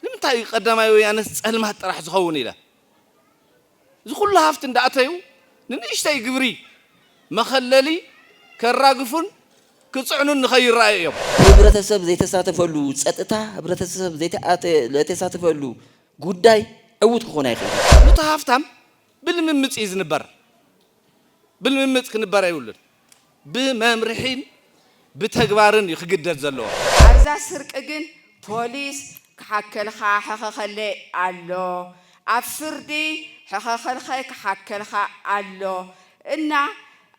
ንምንታይ እዩ ቀዳማይ ወያነስ ፀልማት ጥራሕ ዝኸውን ኢለ እዚ ኩሉ ሃፍቲ እንዳእተዩ ንንእሽተይ ግብሪ መኸለሊ ከራግፉን ክፅዕኑን ንኸይረኣዩ እዮም። ህብረተሰብ ዘይተሳተፈሉ ፀጥታ ህብረተሰብ ዘይተሳተፈሉ ጉዳይ ዕዉት ክኾን ኣይኽእልን። ኑቲ ሃፍታም ብልምምጽ እዩ ዝንበር። ብልምምጽ ክንበር ኣይብሉን። ብመምርሒን ብተግባርን እዩ ክግደድ ዘለዎ። ኣብዛ ስርቂ ግን ፖሊስ ክሓከልኻ ሕኸኸለይ ኣሎ ኣብ ፍርዲ ሕኸኸልኸይ ክሓከልኻ ኣሎ እና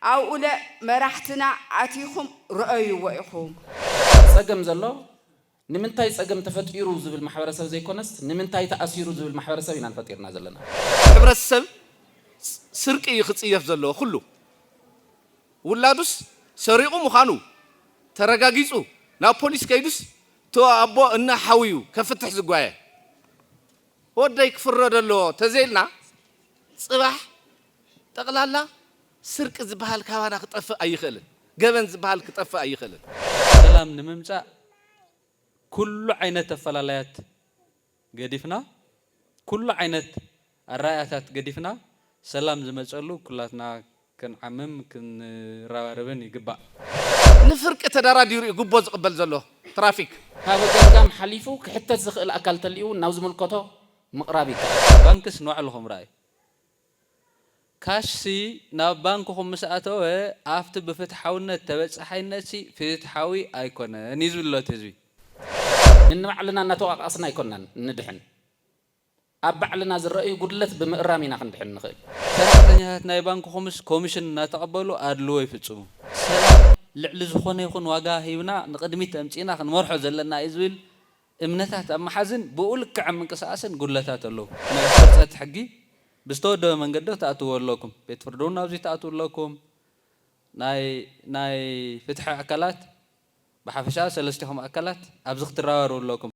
ኣብኡለ መራሕትና ኣቲኹም ርኦይዎ ኢኹም። ጸገም ዘሎ ንምንታይ ጸገም ተፈጢሩ ዝብል ማሕበረሰብ ዘይኮነስት ንምንታይ ተኣሲሩ ዝብል ማሕበረሰብ ኢና ንፈጢርና ዘለና። ሕብረተሰብ ስርቂ እዩ ክጽየፍ ዘለዎ ኩሉ ውላዱስ ሰሪቁ ምዃኑ ተረጋጊጹ ናብ ፖሊስ ከይዱስ እቲ ኣቦ እነ ሓውዩ ከፍትሕ ዝጓየ ወደይ ክፍረዶ ኣለዎ ተዘይልና ጽባሕ ጠቅላላ ስርቂ ዝብሃል ካባና ክጠፍእ ኣይኽእልን። ገበን ዝብሃል ክጠፍእ ኣይኽእልን። ሰላም ንምምጻእ ኩሉ ዓይነት ኣፈላላያት ገዲፍና፣ ኩሉ ዓይነት ኣረኣእያታት ገዲፍና ሰላም ዝመጸሉ ኩላትና ክንዓምም ክንረባረብን ይግባእ። ንፍርቂ ተዳራዲሩ እዩ ጉቦ ዝቕበል ዘሎ ትራፊክ። ካብ ገምጋም ሓሊፉ ክሕተት ዝኽእል ኣካል ተልዩ እውን ናብ ዝምልከቶ ምቕራብ ይከኣል። ባንክስ ንባዕልኹም ረኣዩ። ካሽሲ ናብ ባንክኹም ምስ ኣተወ ኣብቲ ብፍትሓውነት ተበጻሓይነትሲ ፍትሓዊ ኣይኮነን እዩ ዝብልሎ እቲ ህዝቢ። ንንባዕልና እናተወቓቓስና ኣይኮናን እንድሕን፣ ኣብ ባዕልና ዝረኣዩ ጉድለት ብምእራም ኢና ክንድሕን ንኽእል። ሰራሕተኛታት ናይ ባንክኹምስ ኮሚሽን እናተቐበሉ ኣድልዎ ይፍጽሙ። ሰላም ልዕሊ ዝኾነ ይኹን ዋጋ ሂብና ንቕድሚት ኣምጺእና ክንመርሖ ዘለና እዩ ዝብል እምነታት ኣብ ምሓዝን ብኡ ልክዕ ኣብ ምንቅስቓስን ጉድለታት ኣለዉ። ናይ ሕንጸት ሕጊ ብዝተወደበ መንገዲ ክትኣትውዎ ኣለኩም። ቤት ፍርዲ'ውን ናብዚ ትኣትዉ ኣለኩም። ናይ ናይ ፍትሒ ኣካላት ብሓፈሻ ሰለስቲኹም ኣካላት ኣብዚ ክትረባረቡ ኣለኩም።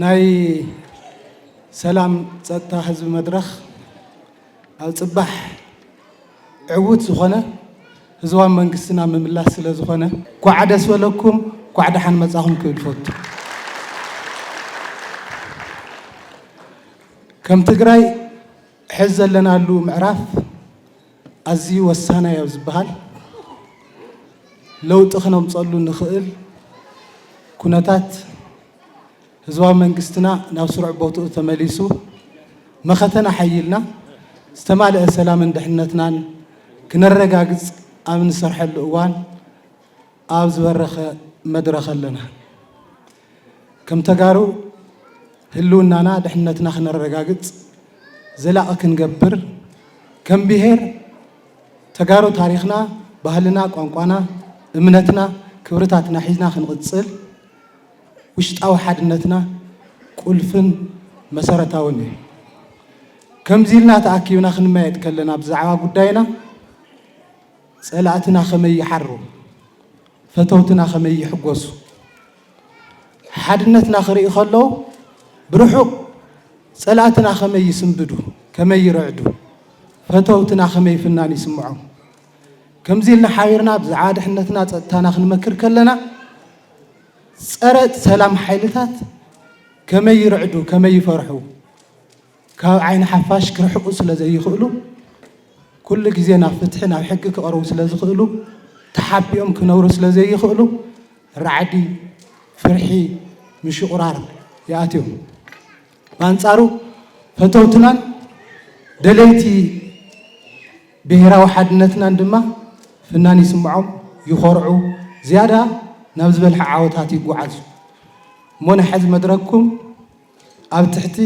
ናይ ሰላም ፀጥታ ህዝቢ መድረኽ ኣብ ፅባሕ ዕውት ዝኾነ ህዝባዊ መንግስትና ምምላስ ስለ ዝኾነ ኳዕ ደስ በለኩም ኳዕ ደሓን መፃኹም ክብል ይፈቱ። ከም ትግራይ ሕዚ ዘለናሉ ምዕራፍ ኣዝዩ ወሳናይ ኣብ ዝበሃል ለውጢ ክነምፀሉ ንኽእል ኩነታት ህዝባዊ መንግስትና ናብ ስሩዕ ቦትኡ ተመሊሱ መኸተና ሓይልና ዝተማልአ ሰላምን ድሕነትናን ክነረጋግፅ ኣብ ንሰርሐሉ እዋን ኣብ ዝበረኸ መድረኽ ኣለና። ከም ተጋሩ ህልውናና ድሕነትና ክነረጋግፅ ዘላቒ ክንገብር ከም ብሄር ተጋሩ ታሪኽና፣ ባህልና፣ ቋንቋና፣ እምነትና፣ ክብርታትና ሒዝና ክንቕፅል ውሽጣዊ ሓድነትና ቁልፍን መሰረታውን እዩ። ከምዚ ኢልና ተኣኪብና ክንመያየጥ ከለና ብዛዕባ ጉዳይና ፀላእትና ከመይ ይሓሩ? ፈተውትና ከመይ ይሕጎሱ ሓድነትና ክርኢ ከለው ብርሑቕ ጸላእትና ከመይ ይስንብዱ ከመይ ይርዕዱ ፈተውትና ከመይ ፍናን ይስምዖም ከምዚ ኢልና ሓቢርና ብዛዕባ ድሕነትና ጸጥታና ክንመክር ከለና ጸረ ሰላም ሓይልታት ከመይ ይርዕዱ ከመይ ይፈርሑ ካብ ዓይኒ ሓፋሽ ክርሕቁ ስለ ዘይኽእሉ፣ ኩሉ ግዜ ናብ ፍትሒ ናብ ሕጊ ክቐርቡ ስለ ዝኽእሉ፣ ተሓቢኦም ክነብሩ ስለ ዘይኽእሉ፣ ራዕዲ፣ ፍርሒ፣ ምሽቑራር ይኣትዮም። ብኣንጻሩ ፈተውትናን ደለይቲ ብሄራዊ ሓድነትናን ድማ ፍናን ይስምዖም፣ ይኾርዑ፣ ዝያዳ ናብ ዝበልሐ ዓወታት ይጓዓዙ። እሞ ናይ ሕዚ መድረኽኩም ኣብ ትሕቲ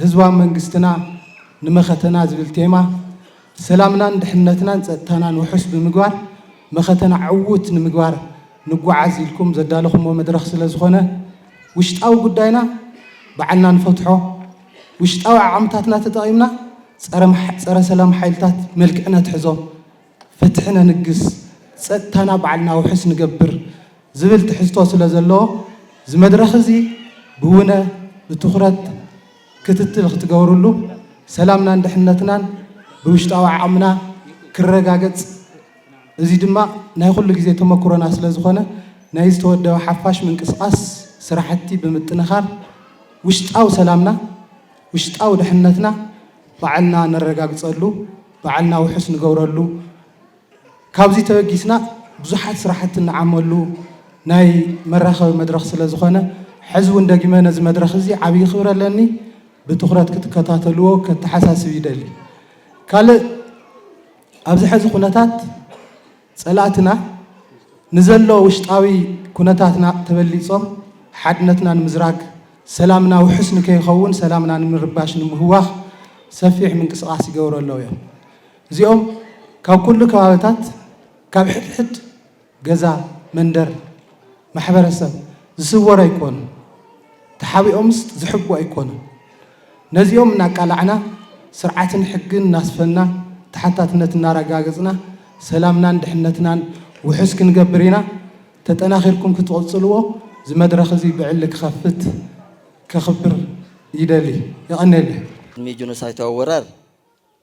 ህዝባዊ መንግስትና ንመኸተና ዝብል ቴማ ሰላምናን ድሕንነትናን ፀጥታናን ውሑስ ብምግባር መኸተና ዕዉት ንምግባር ንጓዓዝ ኢልኩም ዘዳለኹሞ መድረኽ ስለዝኾነ ውሽጣዊ ጉዳይና ባዕልና ንፈትሖ፣ ውሽጣዊ ዓቕምታትና ተጠቒምና ፀረ ሰላም ሓይልታት መልክዕ ነትሕዞ ፍትሒ ነንግስ፣ ፀጥታና ባዕልና ውሑስ ንገብር ዝብል ትሕዝቶ ስለዘለዎ ዝመድረኽ እዚ ብውነ ብትኹረት ክትትል ክትገብርሉ ሰላምናን ድሕነትናን ብውሽጣዊ ዓቕምና ክረጋገፅ እዙይ ድማ ናይ ኹሉ ግዜ ተመኩሮና ስለዝኾነ ናይ ዝተወደበ ሓፋሽ ምንቅስቓስ ስራሕቲ ብምጥንኻር ውሽጣዊ ሰላምና ውሽጣዊ ድሕነትና ባዕልና ነረጋግፀሉ ባዕልና ውሑስ ንገብረሉ፣ ካብዚ ተበጊስና ብዙሓት ስራሕቲ ንዓመሉ ናይ መራኸቢ መድረኽ ስለ ዝኾነ ሕዚ እውን ደጊመ ነዚ መድረኽ እዚ ዓብዪ ክብሪ ኣለኒ። ብትኹረት ክትከታተልዎ ከተሓሳስብ ይደሊ። ካልእ ኣብዚ ሕዚ ኩነታት ፀላእትና ንዘሎ ውሽጣዊ ኩነታትና ተበሊፆም ሓድነትና ንምዝራግ፣ ሰላምና ውሑስ ንከይኸውን ሰላምና ንምርባሽ ንምህዋኽ ሰፊሕ ምንቅስቓስ ይገብሩ ኣለዉ እዮም። እዚኦም ካብ ኩሉ ከባብታት ካብ ሕድሕድ ገዛ፣ መንደር፣ ማሕበረሰብ ዝስወሩ ኣይኮኑን። ተሓቢኦምስ ዝሕብኡ ኣይኮኑን። ነዚኦም እናቃላዕና፣ ስርዓትን ሕግን እናስፈንና፣ ተሓታትነት እናረጋገፅና ሰላምናን ድሕነትናን ውሑስ ክንገብር ኢና። ተጠናኺርኩም ክትቕፅልዎ እዚ መድረኽ እዚ ብዕሊ ክኸፍት ከኽብር ይደሊ። የቐንየለይ። ቅድሚ ጆኖሳይታዊ ወራር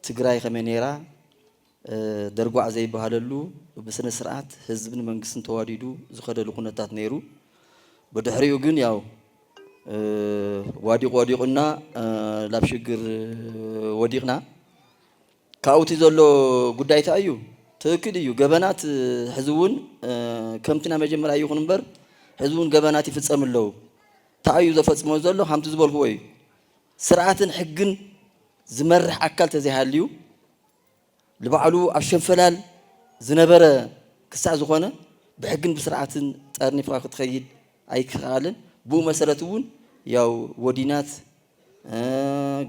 ትግራይ ከመይ ነይራ? ደርጓዕ ዘይበሃለሉ ብስነ ስርዓት ህዝብን መንግስትን ተዋዲዱ ዝኸደሉ ኩነታት ነይሩ። ብድሕሪኡ ግን ያው ዋዲቑ ወዲቑና ላብ ሽግር ወዲቕና። ካብኡ እቲ ዘሎ ጉዳይ እንታይ እዩ? ትክክል እዩ ገበናት ሕዚ እውን ከምቲ ናይ መጀመርያ ይኹን እምበር ሕዚ እውን ገበናት ይፍፀም ኣለዉ። እንታይ እዩ ዘፈፅሞ ዘሎ? ከምቲ ዝበልክዎ እዩ ስርዓትን ሕግን ዝመርሕ ኣካል ተዘይሃልዩ ልባዕሉ ኣብ ሸንፈላል ዝነበረ ክሳዕ ዝኾነ ብሕግን ብስርዓትን ጠርኒፍኻ ክትኸይድ ኣይክኸኣልን። ብኡ መሰረት እውን ያው ወዲናት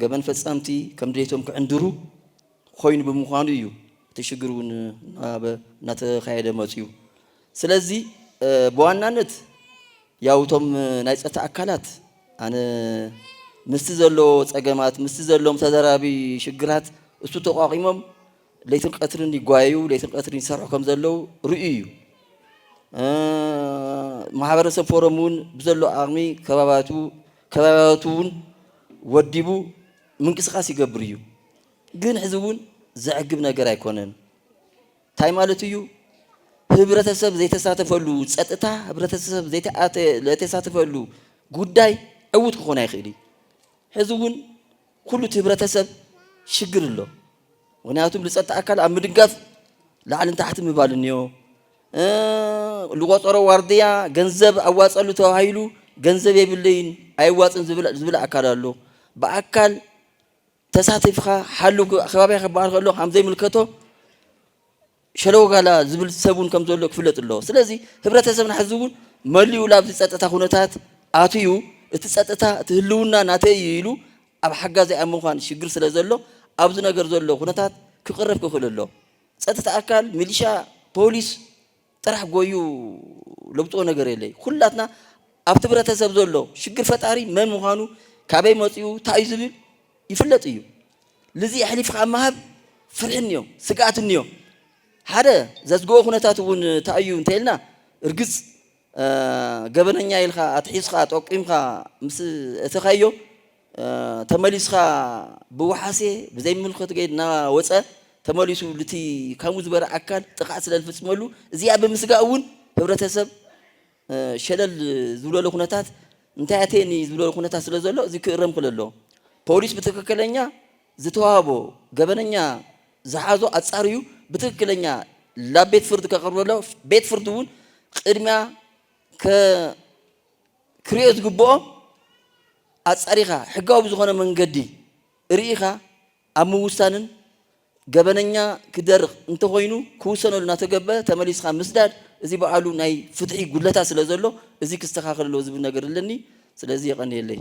ገበን ፈጻምቲ ከም ድሌቶም ክዕንድሩ ኮይኑ ብምዃኑ እዩ እቲ ሽግር እውን እናተኻየደ መጺኡ። ስለዚ ብዋናነት ያው እቶም ናይ ፀጥታ ኣካላት ኣነ ምስቲ ዘሎ ፀገማት ምስቲ ዘለዎም ተደራቢ ሽግራት እሱ ተቋቂሞም ለይትን ቀትርን ይጓየዩ ለይትን ቀትርን ይሰርሑ ከም ዘለዉ ርእዩ እዩ ማሕበረሰብ ፎረም እውን ብዘሎ ኣቕሚ ከባባቱ ከባቢያቱ እውን ወዲቡ ምንቅስቃስ ይገብር እዩ ግን ሕዚ እውን ዘዕግብ ነገር ኣይኮነን ታይ ማለት እዩ ህብረተሰብ ዘይተሳተፈሉ ፀጥታ ህብረተሰብ ዘይተሳተፈሉ ጉዳይ ዕውት ክኾን ኣይኽእል እዩ። ሕዚ እውን ኩሉ እቲ ህብረተሰብ ሽግር ኣሎ። ምክንያቱም ልፀጥታ ኣካል ኣብ ምድጋፍ ላዕልን ታሕቲ ምባል እኒኦ ልቆፀሮ ዋርድያ ገንዘብ ኣዋፀሉ ተባሂሉ ገንዘብ የብለይን ኣይዋፅን ዝብል ኣካል ኣሎ ብኣካል ተሳቲፍኻ ሓሉ ከባቢኻ ክበሃል ከሎ ከም ዘይምልከቶ ሸለወጋላ ዝብል ሰብ እውን ከም ዘሎ ክፍለጥ ኣለዎ። ስለዚ ህብረተሰብና ሕዚ እውን መሊኡ ላብዚ ፀጥታ ኩነታት ኣትዩ እቲ ፀጥታ እቲ ህልውና ናተይ እዩ ኢሉ ኣብ ሓጋዚ ኣብ ምዃን ሽግር ስለ ዘሎ ኣብዚ ነገር ዘሎ ኩነታት ክቕረፍ ክኽእል ኣሎ። ፀጥታ ኣካል ሚሊሻ፣ ፖሊስ፣ ጥራሕ ጎዩ ለውጥኦ ነገር የለይ ኹላትና ኣብቲ ብረተሰብ ዘሎ ሽግር ፈጣሪ መን ምዃኑ ካበይ መፅኡ ታእዩ ዝብል ይፍለጥ እዩ ልዚ ኣሕሊፍኻ ምሃብ ፍርሒ እንዮ ስግኣት እንዮ ሓደ ዘስግኦ ኩነታት እውን ታእዩ እንተይልና እርግፅ ገበነኛ ኢልኻ ኣትሒዝኻ ጠቂምኻ ምስ እተኻዮ ተመሊስካ ብወሓሴ ብዘይምልከቱ ገይድ እናወፀ ተመሊሱ ልቲ ካሙ ዝበረ ኣካል ጥቕዓት ስለ ዝፍፅመሉ እዚኣ ብምስጋእ እውን ህብረተሰብ ሸለል ዝብለሉ ኩነታት እንታይ ኣተየኒ ዝብለሉ ኩነታት ስለ ዘሎ እዚ ክእረም ክል ኣሎ ፖሊስ ብትክክለኛ ዝተዋህቦ ገበነኛ ዝሓዞ ኣፃርዩ ብትክክለኛ ላብ ቤት ፍርድ ከቅርበሎ ቤት ፍርድ እውን ቅድሚያ ከ ክርኤ ዝግብኦ ኣጻሪኻ ሕጋዊ ብዝኾነ መንገዲ ርኢኻ ኣብ ምውሳንን ገበነኛ ክደርኽ እንተኾይኑ ክውሰነሉ እናተገበ ተመሊስኻ ምስዳድ እዚ ባዕሉ ናይ ፍትሒ ጉድለታት ስለዘሎ እዚ ክስተኻኸል ኣለዎ ዝብል ነገር ኣለኒ ስለዚ የቐንየለይ።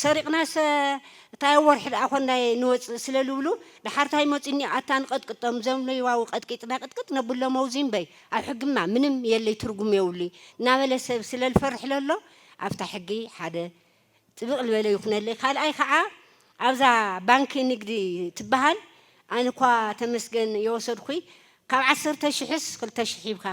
ሰሪቕናሰ እታይ ኣብ ወርሒ ደኣ ኮንዳይ ንወጽእ ስለ ልብሉ ደሓር ታይ መጺኒ ኣታ ንቀጥቅጦም እዞም ለይዋዊ ቀጥቂጥና ቅጥቅጥ ነብሎም ኣውዚ እምበይ ኣብ ሕግማ ምንም የለይ ትርጉም የውሉይ ናበለ ሰብ ስለ ልፈርሕ ለሎ ኣፍታ ሕጊ ሓደ ጥብቅ ልበለ ይኩነለይ ካልኣይ ካዓ ኣብዛ ባንኪ ንግዲ ትባሃል ኣንኳ ተመስገን የወሰድኩይ ካብ ዓሰርተ ሽሕስ ክልተ ሽሕ ሂብካ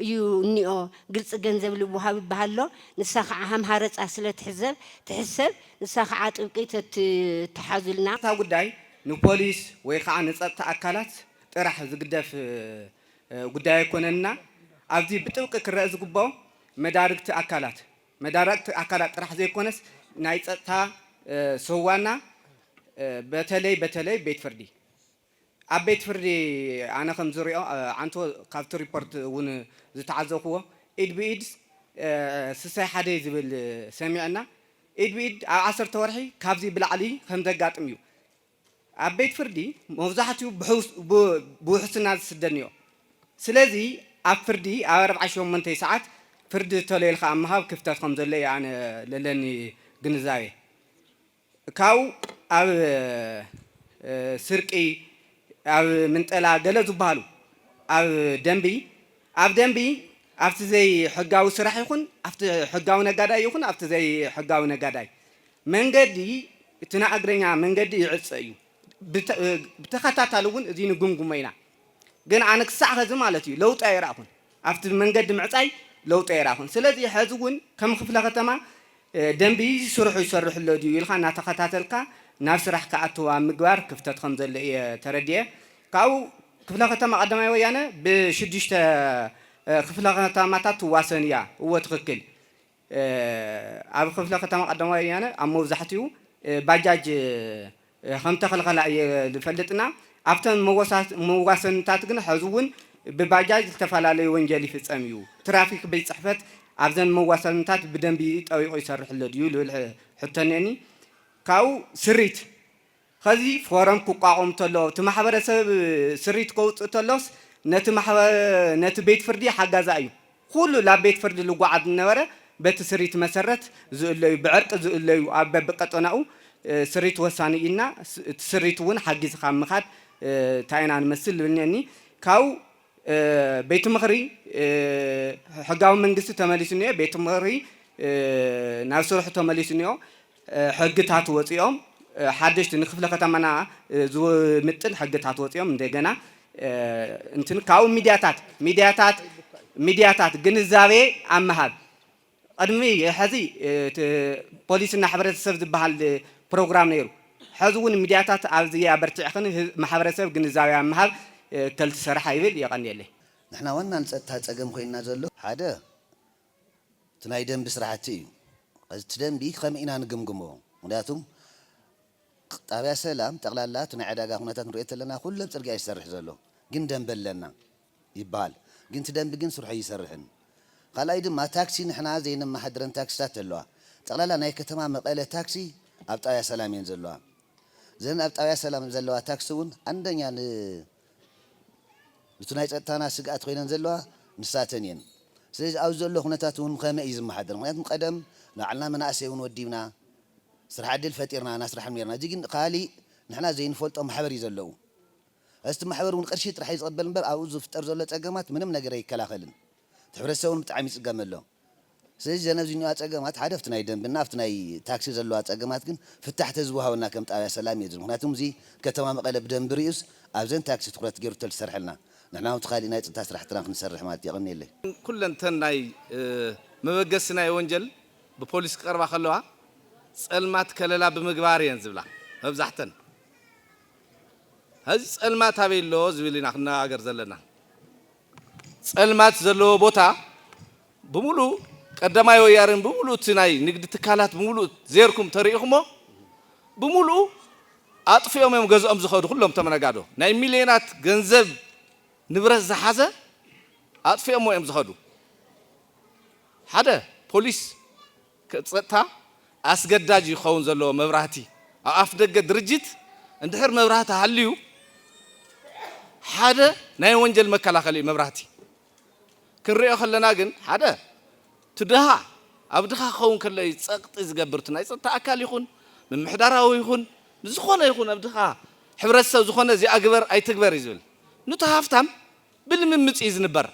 እዩ እኒኦ ግልፂ ገንዘብ ልወሃብ ይበሃልሎ ንሳ ከዓ ሃም ሃረፃ ስለ ትሕዘብ ትሕሰብ ንሳ ከዓ ጥብቂ ተትትሓዙልና። እታ ጉዳይ ንፖሊስ ወይ ኻዓ ንፀጥታ ኣካላት ጥራሕ ዝግደፍ ጉዳይ ኣይኮነንና ኣብዚ ብጥብቂ ክረእ ዝግበኦ መዳርግቲ ኣካላት መዳርግቲ ኣካላት ጥራሕ ዘይኮነስ ናይ ፀጥታ ሰዋና በተለይ በተለይ ቤት ፍርዲ ኣብ ቤት ፍርዲ ኣነ ከም ዝሪኦ ዓንቶ ካብቲ ሪፖርት እውን ዝተዓዘብኩዎ ኢድ ብኢድ ስሰ ሓደይ ዝብል ሰሚዐ እና ኢድ ብኢድ ኣብ ዓሰርተ ወርሒ ካብዚ ብላዕሊ ከም ዘጋጥም እዩ ኣብ ቤት ፍርዲ መብዛሕትኡ ብውሕስና ዝስደድ እኒኦ ስለዚ ኣብ ፍርዲ ኣብ ኣርብዓ ሸሞንተይ ሰዓት ፍርዲ ተሎ ኢልካ ኣብ ምሃብ ክፍተት ከም ዘሎ እዩ ኣነ ለለኒ ግንዛቤ። ካብኡ ኣብ ስርቂ ኣብ ምንጠላ ገለ ዝብሃሉ ኣብ ደንቢ ኣብ ደንቢ ኣብቲ ዘይሕጋዊ ስራሕ ይኹን ኣብቲ ሕጋዊ ነጋዳይ ይኹን ኣብቲ ዘይሕጋዊ ነጋዳይ መንገዲ እቲ ንኣግረኛ መንገዲ ይዕፀ እዩ። ብተኸታታሊ እውን እዚ ንግምግሞ ኢና። ግን ኣነ ክሳዕ ኸዚ ማለት እዩ ለውጢ ኣይረኣኹን። ኣብቲ መንገዲ ምዕፃይ ለውጢ ኣይረኣኹን። ስለዚ ሐዚ እውን ከም ኽፍለ ኸተማ ደንቢ እዚ ስርሑ ይሰርሕ ኣሎ ድዩ ኢልኻ እናተኸታተልካ ናብ ስራሕ ክኣትው ኣብ ምግባር ክፍተት ኸም ዘሎ እየ ተረዲኤ። ካብኡ ክፍለ ኸተማ ቐዳማይ ወያነ ብሽዱሽተ ኽፍለ ኸተማታት ትዋሰን እያ። እወ ትኽክል። ኣብ ክፍለ ከተማ ቀዳማይ ወያነ ኣብ መብዛሕትኡ ባጃጅ ከምተኸልኸላ እየ ዝፈልጥና ኣብተን መዋሰንታት ግን ሐዚ እውን ብባጃጅ ዝተፈላለዩ ወንጀል ይፍፀም እዩ ትራፊክ ቤት ፅሕፈት ኣብዘን መዋሰንታት ብደንቢ ጠቢቑ ይሰርሕ ኣሎ ድዩ ልብል ሕቶ እኒኤኒ ካብኡ ስሪት ኸዚ ፎረም ክቋቖም ተሎ እቲ ማሕበረሰብ ስሪት ከውጽእ ተሎስ ነቲ ነቲ ቤት ፍርዲ ሓጋዚ ኣዩ ኹሉ ላብ ቤት ፍርዲ ልጓዓዝ ዝነበረ በቲ ስሪት መሰረት ዝእለዩ ብዕርቂ ዝእለዩ ኣብ በብቀጠናኡ ስሪት ወሳኒ እዩ እና እቲ ስሪት እውን ሓጊዝኻ ኣብ ምኻድ ታይ ኢና ንመስል እብልኒ ካብ ቤት ምኽሪ ሕጋዊ መንግስቲ ተመሊሱ እኒኦ ቤት ምኽሪ ናብ ስርሑ ተመሊሱ እኒኦ ሕግታት ወፂኦም ሓደሽቲ ንክፍለ ከተማና ዝምጥን ሕግታት ወፂኦም እንደገና እንትን ካብኡ ሚድያታት ሚድያታት ሚድያታት ግንዛቤ ኣብ ምሃብ ቅድሚ ሕዚ ፖሊስና ሕብረተሰብ ዝበሃል ፕሮግራም ነይሩ ሕዚ እውን ሚድያታት ኣብዚ ኣበርቲዕኽን ማሕበረሰብ ግንዛቤ ኣብ ምሃብ ከልትሰርሓ ይብል የቀንየለይ። ንሕና ዋና ንፀጥታ ፀገም ኮይንና ዘሎ ሓደ እቲ ናይ ደንቢ ስራሕቲ እዩ። ኸዚ እቲ ደንቢ ኸመይ ኢና ንግምግሞ ምኽንያቱ ጣብያ ሰላም ጠቅላላ እቲ ናይ ዕዳጋ ኹነታት ንሪኦ ተለና ኹለን ፅርግያ እዩ ዝሰርሕ ዘሎ ግን ደንቢ ኣለና ይበሃል ግን እቲ ደንቢ ግን ስርሑ ኣይሰርሕን ኻልኣይ ድማ ታክሲ ንሕና ዘይነመሓድረን ታክሲታት ኣለዋ ጠቅላላ ናይ ከተማ መቀለ ታክሲ ኣብ ጣብያ ሰላም እየን ዘለዋ እዘን ኣብ ጣብያ ሰላም ዘለዋ ታክሲ እውን ኣንደኛ ን እቲ ናይ ጸጥታና ስግኣት ኮይነን ዘለዋ ንሳተን እየን። ስለዚ ኣብዚ ዘሎ ኩነታት እውን ከመይ እዩ ዝመሓደር? ምኽንያቱ ቀደም ንባዕልና መናእሰይ እውን ወዲብና ስራሕ ዕድል ፈጢርና እናስራሕም ኔርና። እዚ ግን ካሊእ ንሕና ዘይንፈልጦ ማሕበር እዩ ዘለዉ። እስቲ ማሕበር እውን ቅርሺ ጥራሕ እዩ ዝቕበል እምበር ኣብኡ ዝፍጠር ዘሎ ጸገማት ምንም ነገር ኣይከላኸልን። እቲ ሕብረተሰብ እውን ብጣዕሚ ይጽገመሎም። ስለዚ ዘነዚንዋ ጸገማት ሓደ ኣብቲ ናይ ደንብና ኣብቲ ናይ ታክሲ ዘለዋ ጸገማት ግን ፍታሕ ተዝወሃበና ከም ጣብያ ሰላም እየ ዝብል ምክንያቱ እዚ ከተማ መቐለ ብደንቢ ሪኡስ ኣብዘን ታክሲ ትኩረት ገሩ ተልሰርሐልና ንሕና ውን እቲ ካሊእ ናይ ጽጥታ ስራሕትና ክንሰርሕ ማለት እዩ የቐንየለይ። ኩለን እተን ናይ መበገሲ ናይ ወንጀል ብፖሊስ ክቀርባ ከለዋ ጸልማት ከለላ ብምግባር ኢየን ዝብላ መብዛሕተን። ሀዚ ጸልማት ኣበይ ኣሎ ዝብል ኢና ክንነጋገር ዘለና። ፀልማት ዘለዎ ቦታ ብምሉእ ቀዳማይ ወያነ ብምሉእ እቲ ናይ ንግዲ ትካላት ብምሉእ ዜርኩም ተሪኢኹሞ ብምሉኡ ኣጥፊኦም እዮም ገዝኦም ዝኸዱ ኩሎም እቶም ነጋዶ ናይ ሚሊዮናት ገንዘብ ንብረት ዝሓዘ ኣጥፊኦሞ እዮም ዝኸዱ ሓደ ፖሊስ ጸጥታ ኣስገዳጅ እዩ ክኸውን ዘለዎ መብራህቲ ኣብ ኣፍደገ ድርጅት እንድሕር መብራህቲ ሃልዩ ሓደ ናይ ወንጀል መከላኸሊ እዩ መብራህቲ ክንሪኦ ከለና ግን ሓደ ትድሃ ኣብ ድኻ ክኸውን ከሎ እዩ ጸቕጢ ዝገብር እቲ ናይ ጸጥታ ኣካል ይኹን ምምሕዳራዊ ይኹን ንዝኾነ ይኹን ኣብ ድኻ ሕብረተሰብ ዝኾነ እዚኣ ግበር ኣይትግበር እዩ ዝብል ኑቲ ሃፍታም ብልምምፅ እዩ ዝንበር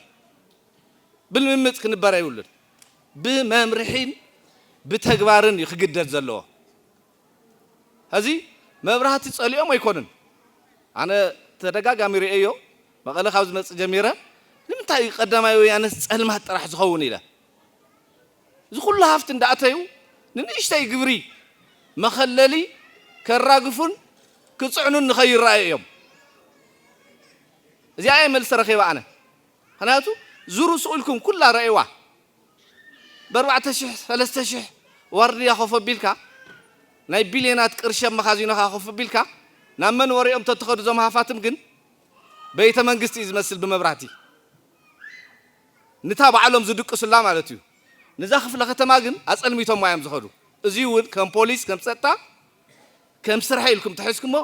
ብልምምፅ ክንበረ ይብሉን ብመምርሒን ብተግባርን እዩ ክግደድ ዘለዎ ሀዚ መብራህቲ ፀሊኦም ኣይኮኑን ኣነ ተደጋጋሚ ሪኤዮ መቐለ ካብ ዝመፅእ ጀሚረ ንምንታይ እዩ ቀዳማይ ወያነስ ፀልማት ጥራሕ ዝኸውን ኢለ እዚ ኩሉ ሃፍቲ እንዳእተዩ ንንእሽተይ ግብሪ መኸለሊ ከራግፉን ክፅዕኑን ንኸይረኣዩ እዮም እዚኣ እየ መልሲ ረኺበ ኣነ ምክንያቱ ዙሩ ሱቅ ኢልኩም ኩላ ረኣይዋ በርባዕተ ሽሕ ሰለስተ ሽሕ ዋርድያ ኮፍ ኣቢልካ ናይ ቢልየናት ቅርሺ ኣብ መኻዚኖኻ ኮፍ ኣቢልካ ናብ መንበሪኦም ተትኸዱ እዞም ሃፋትም ግን በይተ መንግስቲ እዩ ዝመስል ብመብራህቲ ንታ ባዕሎም ዝድቅሱላ ማለት እዩ ንዛ ክፍለ ከተማ ግን ኣጸልሚቶማ እዮም ዝኸዱ እዚ እውን ከም ፖሊስ ከም ጸጥታ ከም ስርሐይ ኢልኩም ተሒዝኩሞ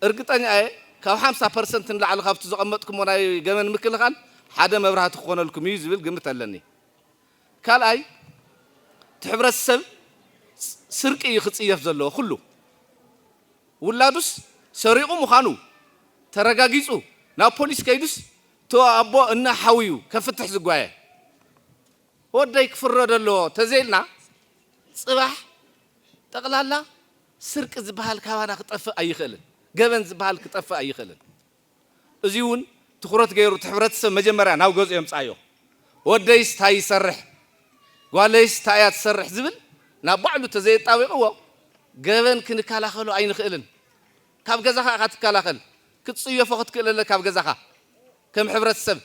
እርግጠኛ እየ ካብ ሓምሳ ፐርሰንት ንላዕሊ ካብቲ ዘቐመጥኩሞ ናይ ገመል ምክልኻል ሓደ መብራህቲ ክኾነልኩም እዩ ዝብል ግምት ኣለኒ። ካልኣይ እቲ ሕብረተሰብ ስርቂ እዩ ክፅየፍ ዘለዎ ኩሉ ውላዱስ ሰሪቑ ምዃኑ ተረጋጊፁ ናብ ፖሊስ ከይዱስ እቲ ኣቦ እና ሓው እዩ ከፍትሕ ዝጓየ። ወደይ ክፍረዶ ኣለዎ ተዘይልና ፅባሕ ጠቕላላ ስርቂ ዝበሃል ካባና ክጠፍእ ኣይኽእልን። ገበን ዝበሃል ክጠፍእ ኣይኽእልን። እዙይ እውን ትኹረት ገይሩ እቲ ሕብረተሰብ መጀመርያ ናብ ገዝኦ የምፅኣዮ። ወደይስ ታይ ይሰርሕ? ጓለይስ ታይ እያ ትሰርሕ? ዝብል ናብ ባዕሉ ተዘየጣቢቕዎ ገበን ክንከላኸሎ ኣይንኽእልን። ካብ ገዛኻ ኢኻ ትከላኸል። ክትፅየፎ ክትክእል ኣለካ ኣብ ገዛኻ ከም ሕብረተሰብ።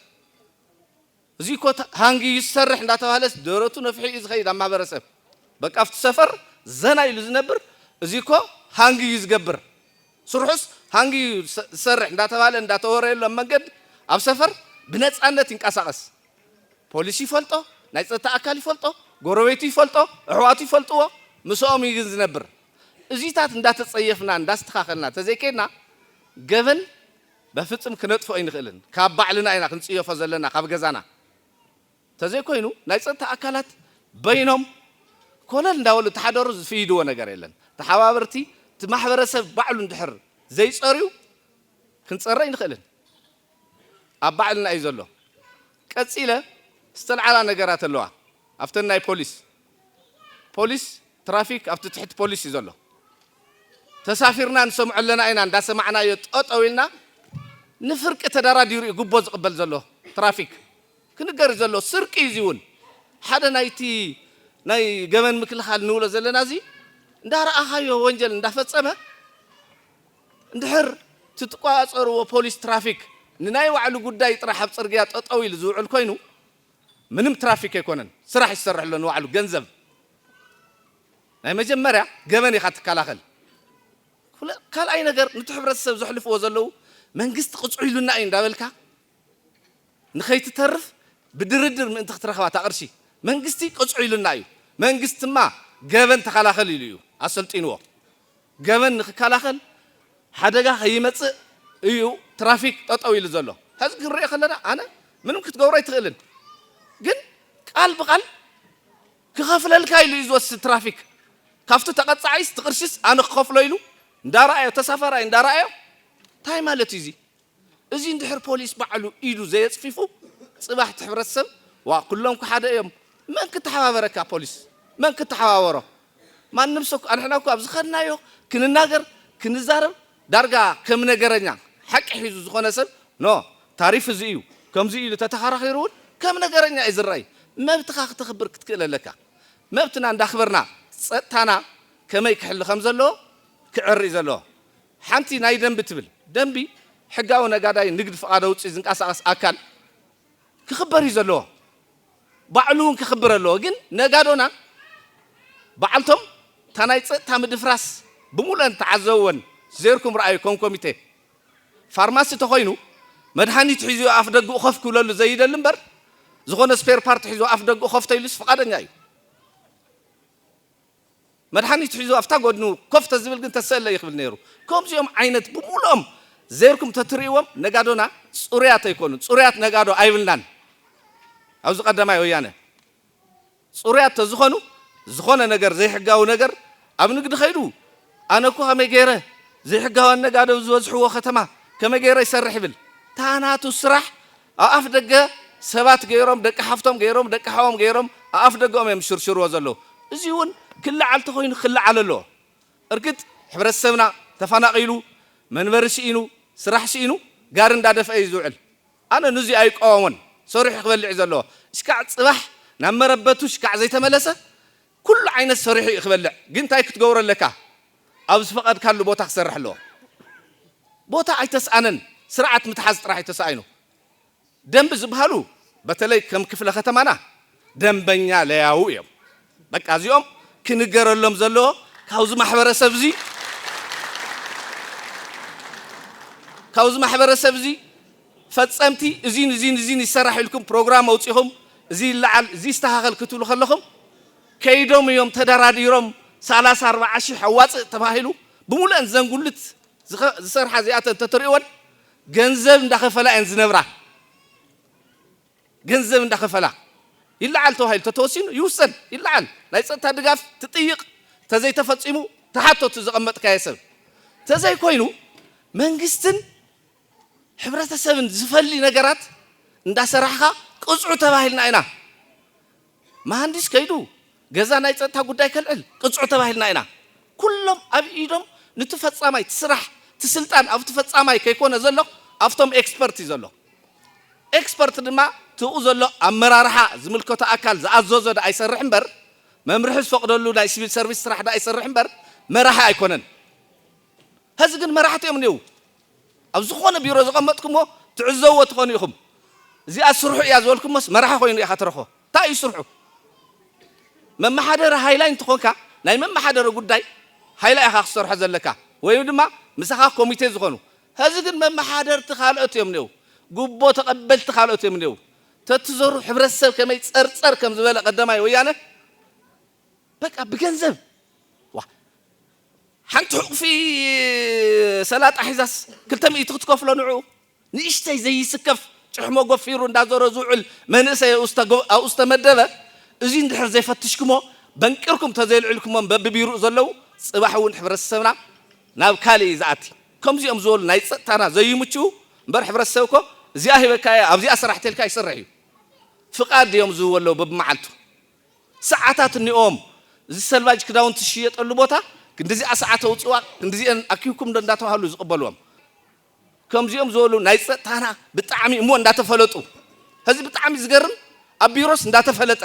እዙይ እኮ ሃንጊ እዩ ዝሰርሕ እንዳተባህለስ ደረቱ ነፊሑ እዩ ዝኸይድ ኣብ ማህበረሰብ በቃ ኣብቲ ሰፈር ዘና ኢሉ ዝነብር እዙይ እኮ ሃንጊ እዩ ዝገብር ስርሑስ ሃንጊ እዩ ዝሰርሕ እንዳተባህለ እንዳተወረየሉ ኣብ መንገዲ ኣብ ሰፈር ብነፃነት ይንቀሳቐስ ፖሊስ ይፈልጦ ናይ ፀጥታ ኣካል ይፈልጦ ጎረቤቱ ይፈልጦ ኣሕዋቱ ይፈልጥዎ ምስኦም እዩ ግን ዝነብር እዙይታት እንዳተፀየፍና እንዳስተኻኸልና ተዘይከይድና ገበን በፍጽም ክነጥፍኦ ኣይንኽእልን ካብ ባዕልና ኢና ክንጽየፎ ዘለና ካብ ገዛና ተዘይኮይኑ ናይ ጸጥታ ኣካላት በይኖም ኮለል እንዳበሉ ተሓደሩ ዝፍይድዎ ነገር የለን ተሓባበርቲ እቲ ማሕበረሰብ ባዕሉ እንድሕር ዘይጸርዩ ክንጸሪ ኣይንኽእልን ኣብ ባዕልና እዩ ዘሎ ቀጺለ ዝተልዓላ ነገራት ኣለዋ ኣብተን ናይ ፖሊስ ፖሊስ ትራፊክ ኣብቲ ትሕቲ ፖሊስ እዩ ዘሎ ተሳፊርና ንሰምዖ ኣለና ኢና እንዳሰማዕናዮ ጠጠው ኢልና ንፍርቂ ተዳራዲሩ እዩ ጉቦ ዝቅበል ዘሎ ትራፊክ ክንገር እዩ ዘሎ ስርቂ እዩ እዚ እውን ሓደ ናይቲ ናይ ገበን ምክልኻል ንብሎ ዘለና እዚ እንዳረኣኻዮ ወንጀል እንዳፈፀመ እንድሕር ትትቆፃፀርዎ ፖሊስ ትራፊክ ንናይ ባዕሉ ጉዳይ ጥራሕ ኣብ ፅርግያ ጠጠው ኢሉ ዝውዕል ኮይኑ ምንም ትራፊክ ኣይኮነን ስራሕ እዩ ዝሰርሕ ኣሎ ንባዕሉ ገንዘብ ናይ መጀመርያ ገበን ኢኻ ትከላኸል ካልኣይ ነገር ንቲ ሕብረተሰብ ዘሕልፍዎ ዘለዉ መንግስቲ ቅፅዑ ኢሉና እዩ እንዳበልካ ንኸይትተርፍ ብድርድር ምእንቲ ክትረኽባ ታቕርሺ መንግስቲ ቅፅዑ ኢሉና እዩ መንግስቲማ ገበን ተኸላኸል ኢሉ እዩ ኣሰልጢንዎ ገበን ንክከላኸል ሓደጋ ከይመፅእ እዩ ትራፊክ ጠጠው ኢሉ ዘሎ ሐዚ ክንሪኦ ከለና ኣነ ምንም ክትገብሮ ኣይትኽእልን ግን ቃል ብቃል ክኸፍለልካ ኢሉ እዩ ዝወስድ ትራፊክ ካብቲ ተቐፃዒስ ትቕርሺስ ኣነ ክኸፍሎ ኢሉ እንዳረኣዮ ተሳፋራይ እንዳረኣዮ እንታይ ማለት እዩ እዙይ እዚ እንድሕር ፖሊስ ባዕሉ ኢዱ ዘየጽፊፉ ጽባሕ እቲ ሕብረተሰብ ዋእ ኩሎም እኮ ሓደ እዮም መን ክተሓባበረካ ፖሊስ መን ክተሓባበሮ ማንም ሰብ ኣንሕና እኮ ኣብ ዝኸድናዮ ክንናገር ክንዛረብ ዳርጋ ከም ነገረኛ ሓቂ ሒዙ ዝኾነ ሰብ ን ታሪፍ እዚ እዩ ከምዚ እዩ ኢሉ ተተኻራኺሩ እውን ከም ነገረኛ እዩ ዝረኣይ መብትኻ ክተኽብር ክትክእል ኣለካ መብትና እንዳኽበርና ጸጥታና ከመይ ክሕሉ ከም ዘለዎ ክዕሪ እዩ ዘለዎ ሓንቲ ናይ ደንቢ ትብል ደንቢ ሕጋዊ ነጋዳይ ንግድ ፍቃድ ኣውጺኡ ዝንቃሳቀስ ኣካል ክክበር እዩ ዘለዎ ባዕሉ ውን ክክብር ኣለዎ ግን ነጋዶና ባዓልቶም እታ ናይ ጸጥታ ምድፍራስ ብሙሉኤን ተዓዘብወን ዜርኩም ርኣዩ ከም ኮሚቴ ፋርማሲ ተኮይኑ መድሃኒት ሒዙ እዩ ኣፍ ደጉኡ ከፍ ክብለሉ ዘይደሊ እምበር ዝኮነ ስፔር ፓርት ሒዙ ኣፍ ደጉኡ ከፍ ተይሉስ ፍቃደኛ እዩ። መድሓኒት ሒዙ ኣብታ ጎድኑ ኮፍ ተዝብል ግን ተሰእለይ ክብል ነይሩ። ከምዚኦም ዓይነት ብምሉኦም ዘይርኩም ተትርእይዎም ነጋዶና ጹሩያት ኣይኮኑን ጹሩያት ነጋዶ ኣይብልናን ኣዚ ቀዳማይ ወያነ ጹሩያት ተዝኾኑ ዝኾነ ነገር ዘይሕጋዊ ነገር ኣብ ንግዲ ከይዱ ኣነ እኮ ከመይ ገይረ ዘይሕጋውያን ነጋዶ ዝበዝሕዎ ከተማ ከመይ ገይረ ይሰርሕ ይብል ታናቱ ስራሕ ኣብ ኣፍ ደገ ሰባት ገይሮም ደቂ ሓፍቶም ገይሮም ደቂ ሓዎም ገይሮም ኣብ ኣፍ ደገኦም እዮም ዝሽርሽርዎ ዘለዉ እዚ እውን ክለዓል ተኾይኑ ክለዓል ኣለዎ እርግጥ ሕብረተሰብና ተፋናቂሉ መንበሪ ስኢኑ ስራሕ ስኢኑ ጋሪ እንዳደፍኣ እዩ ዝውዕል ኣነ ንዙይ ኣይቋወሞን ሰሪሑ ክበልዕ እዩ ዘለዎ እሽካዕ ፅባሕ ናብ መረበቱ እሽካዕ ዘይተመለሰ ኩሉ ዓይነት ሰሪሑ እዩ ክበልዕ ግን እንታይ ክትገብሮ ኣለካ ኣብ ዝፈቐድካሉ ቦታ ክሰርሕ ኣለዎ። ቦታ ኣይተስኣነን ስርዓት ምትሓዝ ጥራሕ እዩ ተሳኢኑ። ደንቢ ዝበሃሉ በተለይ ከም ክፍለ ከተማና ደንበኛ ለያዉ እዮም። በቃ እዚኦም ክንገረሎም ዘለዎ ካብዚ ማሕበረሰብ እዚ ካብዚ ማሕበረሰብ እዚ ፈፀምቲ እዚን እዚን እዚን ይሰራሕ ኢልኩም ፕሮግራም ኣውፂኹም እዚ ይለዓል እዚ ይስተኻኸል ክትብሉ ከለኹም ከይዶም እዮም ተደራዲሮም ሰላሳ ኣርባዓ ሽሕ ኣዋፅእ ተባሂሉ ብሙሉኣን እዘን ጉልት ዝሰርሓ እዚኣተን ተትሪእወን ገንዘብ እንዳኸፈላ እየን ዝነብራ ገንዘብ እንዳኸፈላ ይለዓል ተባሂሉ ተተወሲኑ ይውሰን ይለዓል ናይ ፀጥታ ድጋፍ ትጥይቕ ተዘይተፈፂሙ ተሓቶቲ ዘቐመጥካየ ሰብ ተዘይኮይኑ መንግስትን ሕብረተሰብን ዝፈሊ ነገራት እንዳሰራሕኻ ቅፅዑ ተባሂልና ኢና መሃንዲስ ከይዱ ገዛ ናይ ፀጥታ ጉዳይ ከልዕል ቅፅዑ ተባሂልና ኢና ኩሎም ኣብ ኢዶም ንቲ ፈፃማይ እቲ ስራሕ እቲ ስልጣን ኣብቲ ፈፃማይ ከይኮነ ዘሎ ኣብቶም ኤክስፐርት እዩ ዘሎ ኤክስፐርት ድማ ትኡ ዘሎ ኣመራርሓ ዝምልከቶ ኣካል ዝኣዘዞ ድኣ ይሰርሕ እምበር መምርሒ ዝፈቅደሉ ናይ ሲቪል ሰርቪስ ስራሕ ድኣ ይሰርሕ እምበር መራሒ ኣይኮነን ሀዚ ግን መራሕቲ እዮም እኒው ኣብ ዝኾነ ቢሮ ዘቐመጥኩሞ ትዕዘብዎ ትኾኑ ኢኹም። እዚኣ ስርሑ እያ ዝበልኩሞስ መራሒ ኮይኑ ኢኻ ትረኽቦ። እንታይ እዩ ስርሑ? መመሓደሪ ሃይላይ እንተኾንካ ናይ መመሓደሪ ጉዳይ ሃይላይ ኢኻ ክትሰርሖ ዘለካ ወይ ድማ ምሳኻ ኮሚቴ ዝኾኑ። ሀዚ ግን መመሓደርቲ ካልኦት እዮም እኔዉ፣ ጉቦ ተቐበልቲ ካልኦት እዮም እኔዉ። ተትዘሩ ሕብረተሰብ ከመይ ጸርጸር ከምዝበለ ቀደማይ ወያነ በቃ ብገንዘብ ሓንቲ ሑቕፊ ሰላጣ ሒዛስ ክልተ ሚእቲ ክትከፍሎ ንዕኡ። ንእሽተይ ዘይስከፍ ጭሕሞ ጎፊሩ እንዳዞረ ዝውዕል መንእሰይ ኣብኡ ዝተመደበ፣ እዙይ እንድሕር ዘይፈትሽክሞ በንቂርኩም ተዘየልዒልክሞም በብቢሩኡ ዘለው ፅባሕ እውን ሕብረተሰብና ናብ ካሊእ እዩ ዝኣቲ። ከምዚኦም ዝበሉ ናይ ፀጥታና ዘይምችኡ እምበር ሕብረተሰብ እኮ እዚኣ ሂበካ እየ ኣብዚኣ ስራሕ ተልካ ይሰርሕ እዩ። ፍቃድ ድዮም ዝህብዎ ኣለው በብመዓልቱ? ሰዓታት እኒኦዎም እዚ ሰልቫጅ ክዳውንቲ ዝሽየጠሉ ቦታ ክንድዚኣ ሰዓት ኣውፅእዋ ክንድዚኤን ኣኪብኩም ዶ እንዳተባሃሉ ዝቕበልዎም ከምዚኦም ዝበሉ ናይ ፀጥታና ብጣዕሚ እሞ እንዳተፈለጡ ሕዚ ብጣዕሚ ዝገርም ኣብ ቢሮስ እንዳተፈለጠ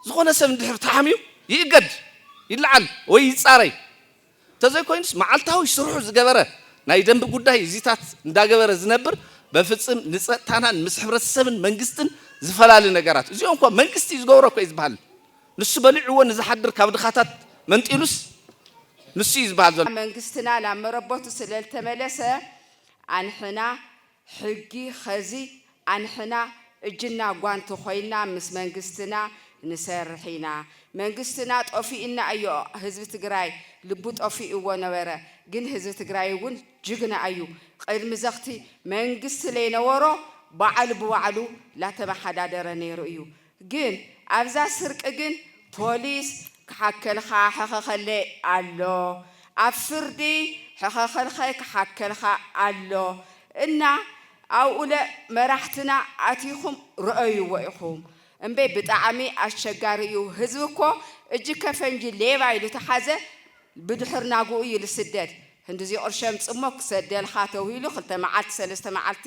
ዝኾነ ሰብ እንድሕር ተሓምዩ ይእገድ ይለዓል ወይ ይፃረይ እንተዘይኮይኑስ መዓልታዊ ስርሑ ዝገበረ ናይ ደንቢ ጉዳይ እዚታት እንዳገበረ ዝነብር በፍጽም ንጸጥታናን ምስ ሕብረተሰብን መንግስትን ዝፈላሊ ነገራት እዚኦም እኮ መንግስቲ እዩ ዝገብሮ እኮ እዩ ዝበሃል ንሱ በሊዕዎ ንዝሓድር ካብ ድኻታት መንጢሉስ ንሱ እዩ ዝበሃል ዘሎ። መንግስትና ናብ መረበቱ ስለልተመለሰ ኣንሕና ሕጊ ኸዚ ኣንሕና እጅና ጓንቲ ኮይና ምስ መንግስትና ንሰርሕ ኢና መንግስትና ጦፊኡና እዮ ህዝቢ ትግራይ ልቡ ጦፊኡዎ ነበረ ግን ህዝቢ ትግራይ እውን ጅግና ኣዩ ቕድሚ ዘክቲ መንግስቲ ለይነዎሮ ባዓሉ ብባዕሉ ላተማሓዳደረ ነይሩ እዩ ግን ኣብዛ ስርቂ ግን ፖሊስ ክሓከልኻ ሕኸኸለ ኣሎ ኣብ ፍርዲ ሕኸኸልኸ ክሓከልኻ ኣሎ እና ኣብኡለ መራሕትና ኣቲኹም ርኦይዎ ኢኹም እምበይ ብጣዕሚ ኣሸጋሪ እዩ ህዝቢ እኮ እጅከ ፈንጂ ሌባ ኢሉ ተሓዘ ብድሕር ናጉኡ እዩ ልስደድ ህንድዚ ቕርሸም ጽሞ ክሰደልኻ ተውሂሉ ክልተ መዓልቲ ሰለስተ መዓልቲ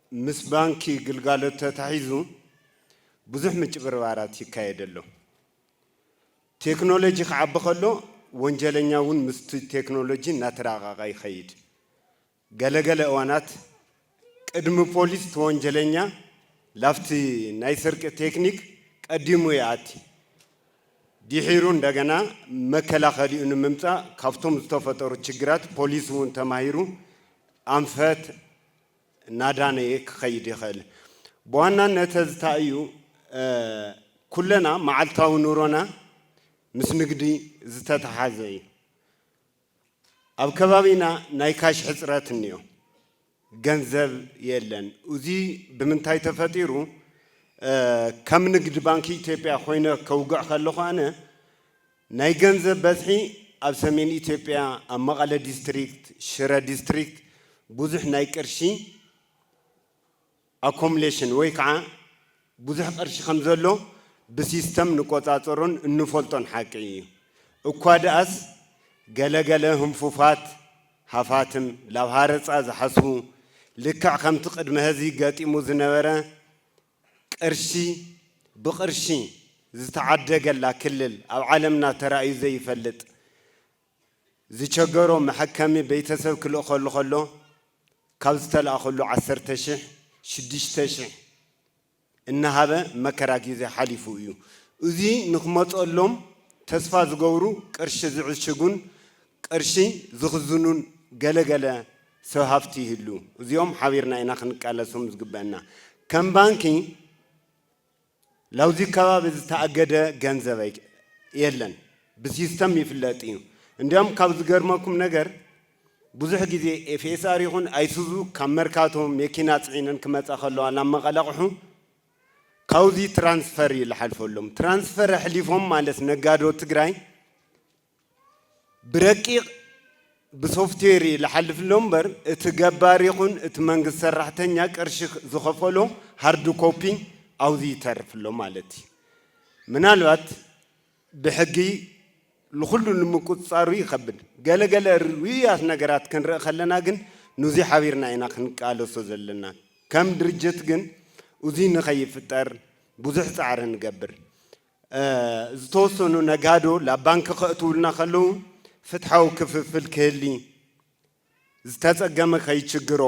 ምስ ባንኪ ግልጋሎት ተታሒዙ ብዙሕ ምጭብርባራት ይካየድ ኣሎ። ቴክኖሎጂ ክዓቢ ከሎ ወንጀለኛ እውን ምስቲ ቴክኖሎጂ እናተራቐቐ ይኸይድ። ገለ ገለ እዋናት ቅድሚ ፖሊስ እቲ ወንጀለኛ ላብቲ ናይ ስርቂ ቴክኒክ ቀዲሙ ይኣቲ። ዲሒሩ እንደገና መከላኸሊኡ ንምምፃእ ካብቶም ዝተፈጠሩ ችግራት ፖሊስ እውን ተማሂሩ ኣንፈት፣ እናዳነየ ክኸይድ ይኸእል። ብዋናነት እዚ ታይ እዩ ኩለና መዓልታዊ ኑሮና ምስ ንግዲ ዝተተሓዘ እዩ። ኣብ ከባቢና ናይ ካሽ ሕፅረት እኒኦ፣ ገንዘብ የለን። እዙይ ብምንታይ ተፈጢሩ ከም ንግድ ባንኪ ኢትዮጵያ ኮይነ ከውግዕ ከለኹ ኣነ ናይ ገንዘብ በዝሒ ኣብ ሰሜን ኢትዮጵያ ኣብ መቐለ ዲስትሪክት፣ ሽረ ዲስትሪክት ብዙሕ ናይ ቅርሺ ኣኮምሌሽን ወይ ከዓ ብዙሕ ቅርሺ ከምዘሎ ብሲስተም ንቆፃፀሮን እንፈልጦን ሓቂ እዩ። እኳ ድኣስ ገለ ገለ ህንፉፋት ሃፋትም ላብ ሃረፃ ዝሓስቡ ልክዕ ከምቲ ቅድመ ሀዚ ገጢሙ ዝነበረ ቅርሺ ብቅርሺ ዝተዓደገላ ክልል ኣብ ዓለምና ተራእዩ ዘይፈልጥ ዝቸገሮ መሐከሚ ቤተሰብ ክልእኸሉ ከሎ ካብ ዝተልኣኸሉ ዓሰርተ ሽሕ ሽዱሽተ ሽሕ እናሃበ መከራ ጊዜ ሓሊፉ እዩ። እዙይ ንክመፀሎም ተስፋ ዝገብሩ ቅርሺ ዝዕሽጉን ቅርሺ ዝኽዝኑን ገለ ገለ ሰብ ሃፍቲ ይህሉ። እዚኦም ሓቢርና ኢና ክንቃለሶም ዝግበእና። ከም ባንኪ ላብዚ ከባቢ ዝተኣገደ ገንዘብ የለን። ብሲስተም ይፍለጥ እዩ። እንዲያውም ካብ ዝገርመኩም ነገር ብዙሕ ግዜ FSR ይኹን ኣይሱዙ ካብ መርካቶ መኪና ፅዒነን ክመፃ ከለዋ ናብ መቐለ ኣቕሑ ካብዚ ትራንስፈር እዩ ዝሓልፈሎም። ትራንስፈር ኣሕሊፎም ማለት ነጋዶ ትግራይ ብረቂቕ ብሶፍትዌር ይልሓልፍሎ እምበር እቲ ገባር ይኹን እቲ መንግስቲ ሰራሕተኛ ቅርሺ ዝኸፈሎ ሃርድ ኮፒ ኣብዙይ ይተርፍሎ ማለት እዩ። ምናልባት ብሕጊ ንኹሉ ንምቁፅፃሩ ይኸብድ ገለ ገለ ርኡያት ነገራት ክንርኢ ከለና ግን ንዙይ ሓቢርና ኢና ክንቃለሶ ዘለና ከም ድርጅት ግን እዙይ ንኸይፍጠር ብዙሕ ፃዕሪ ንገብር ዝተወሰኑ ነጋዶ ላብ ባንኪ ከእትዉልና ከለዉ ፍትሓዊ ክፍፍል ክህሊ፣ ዝተፀገመ ከይችግሮ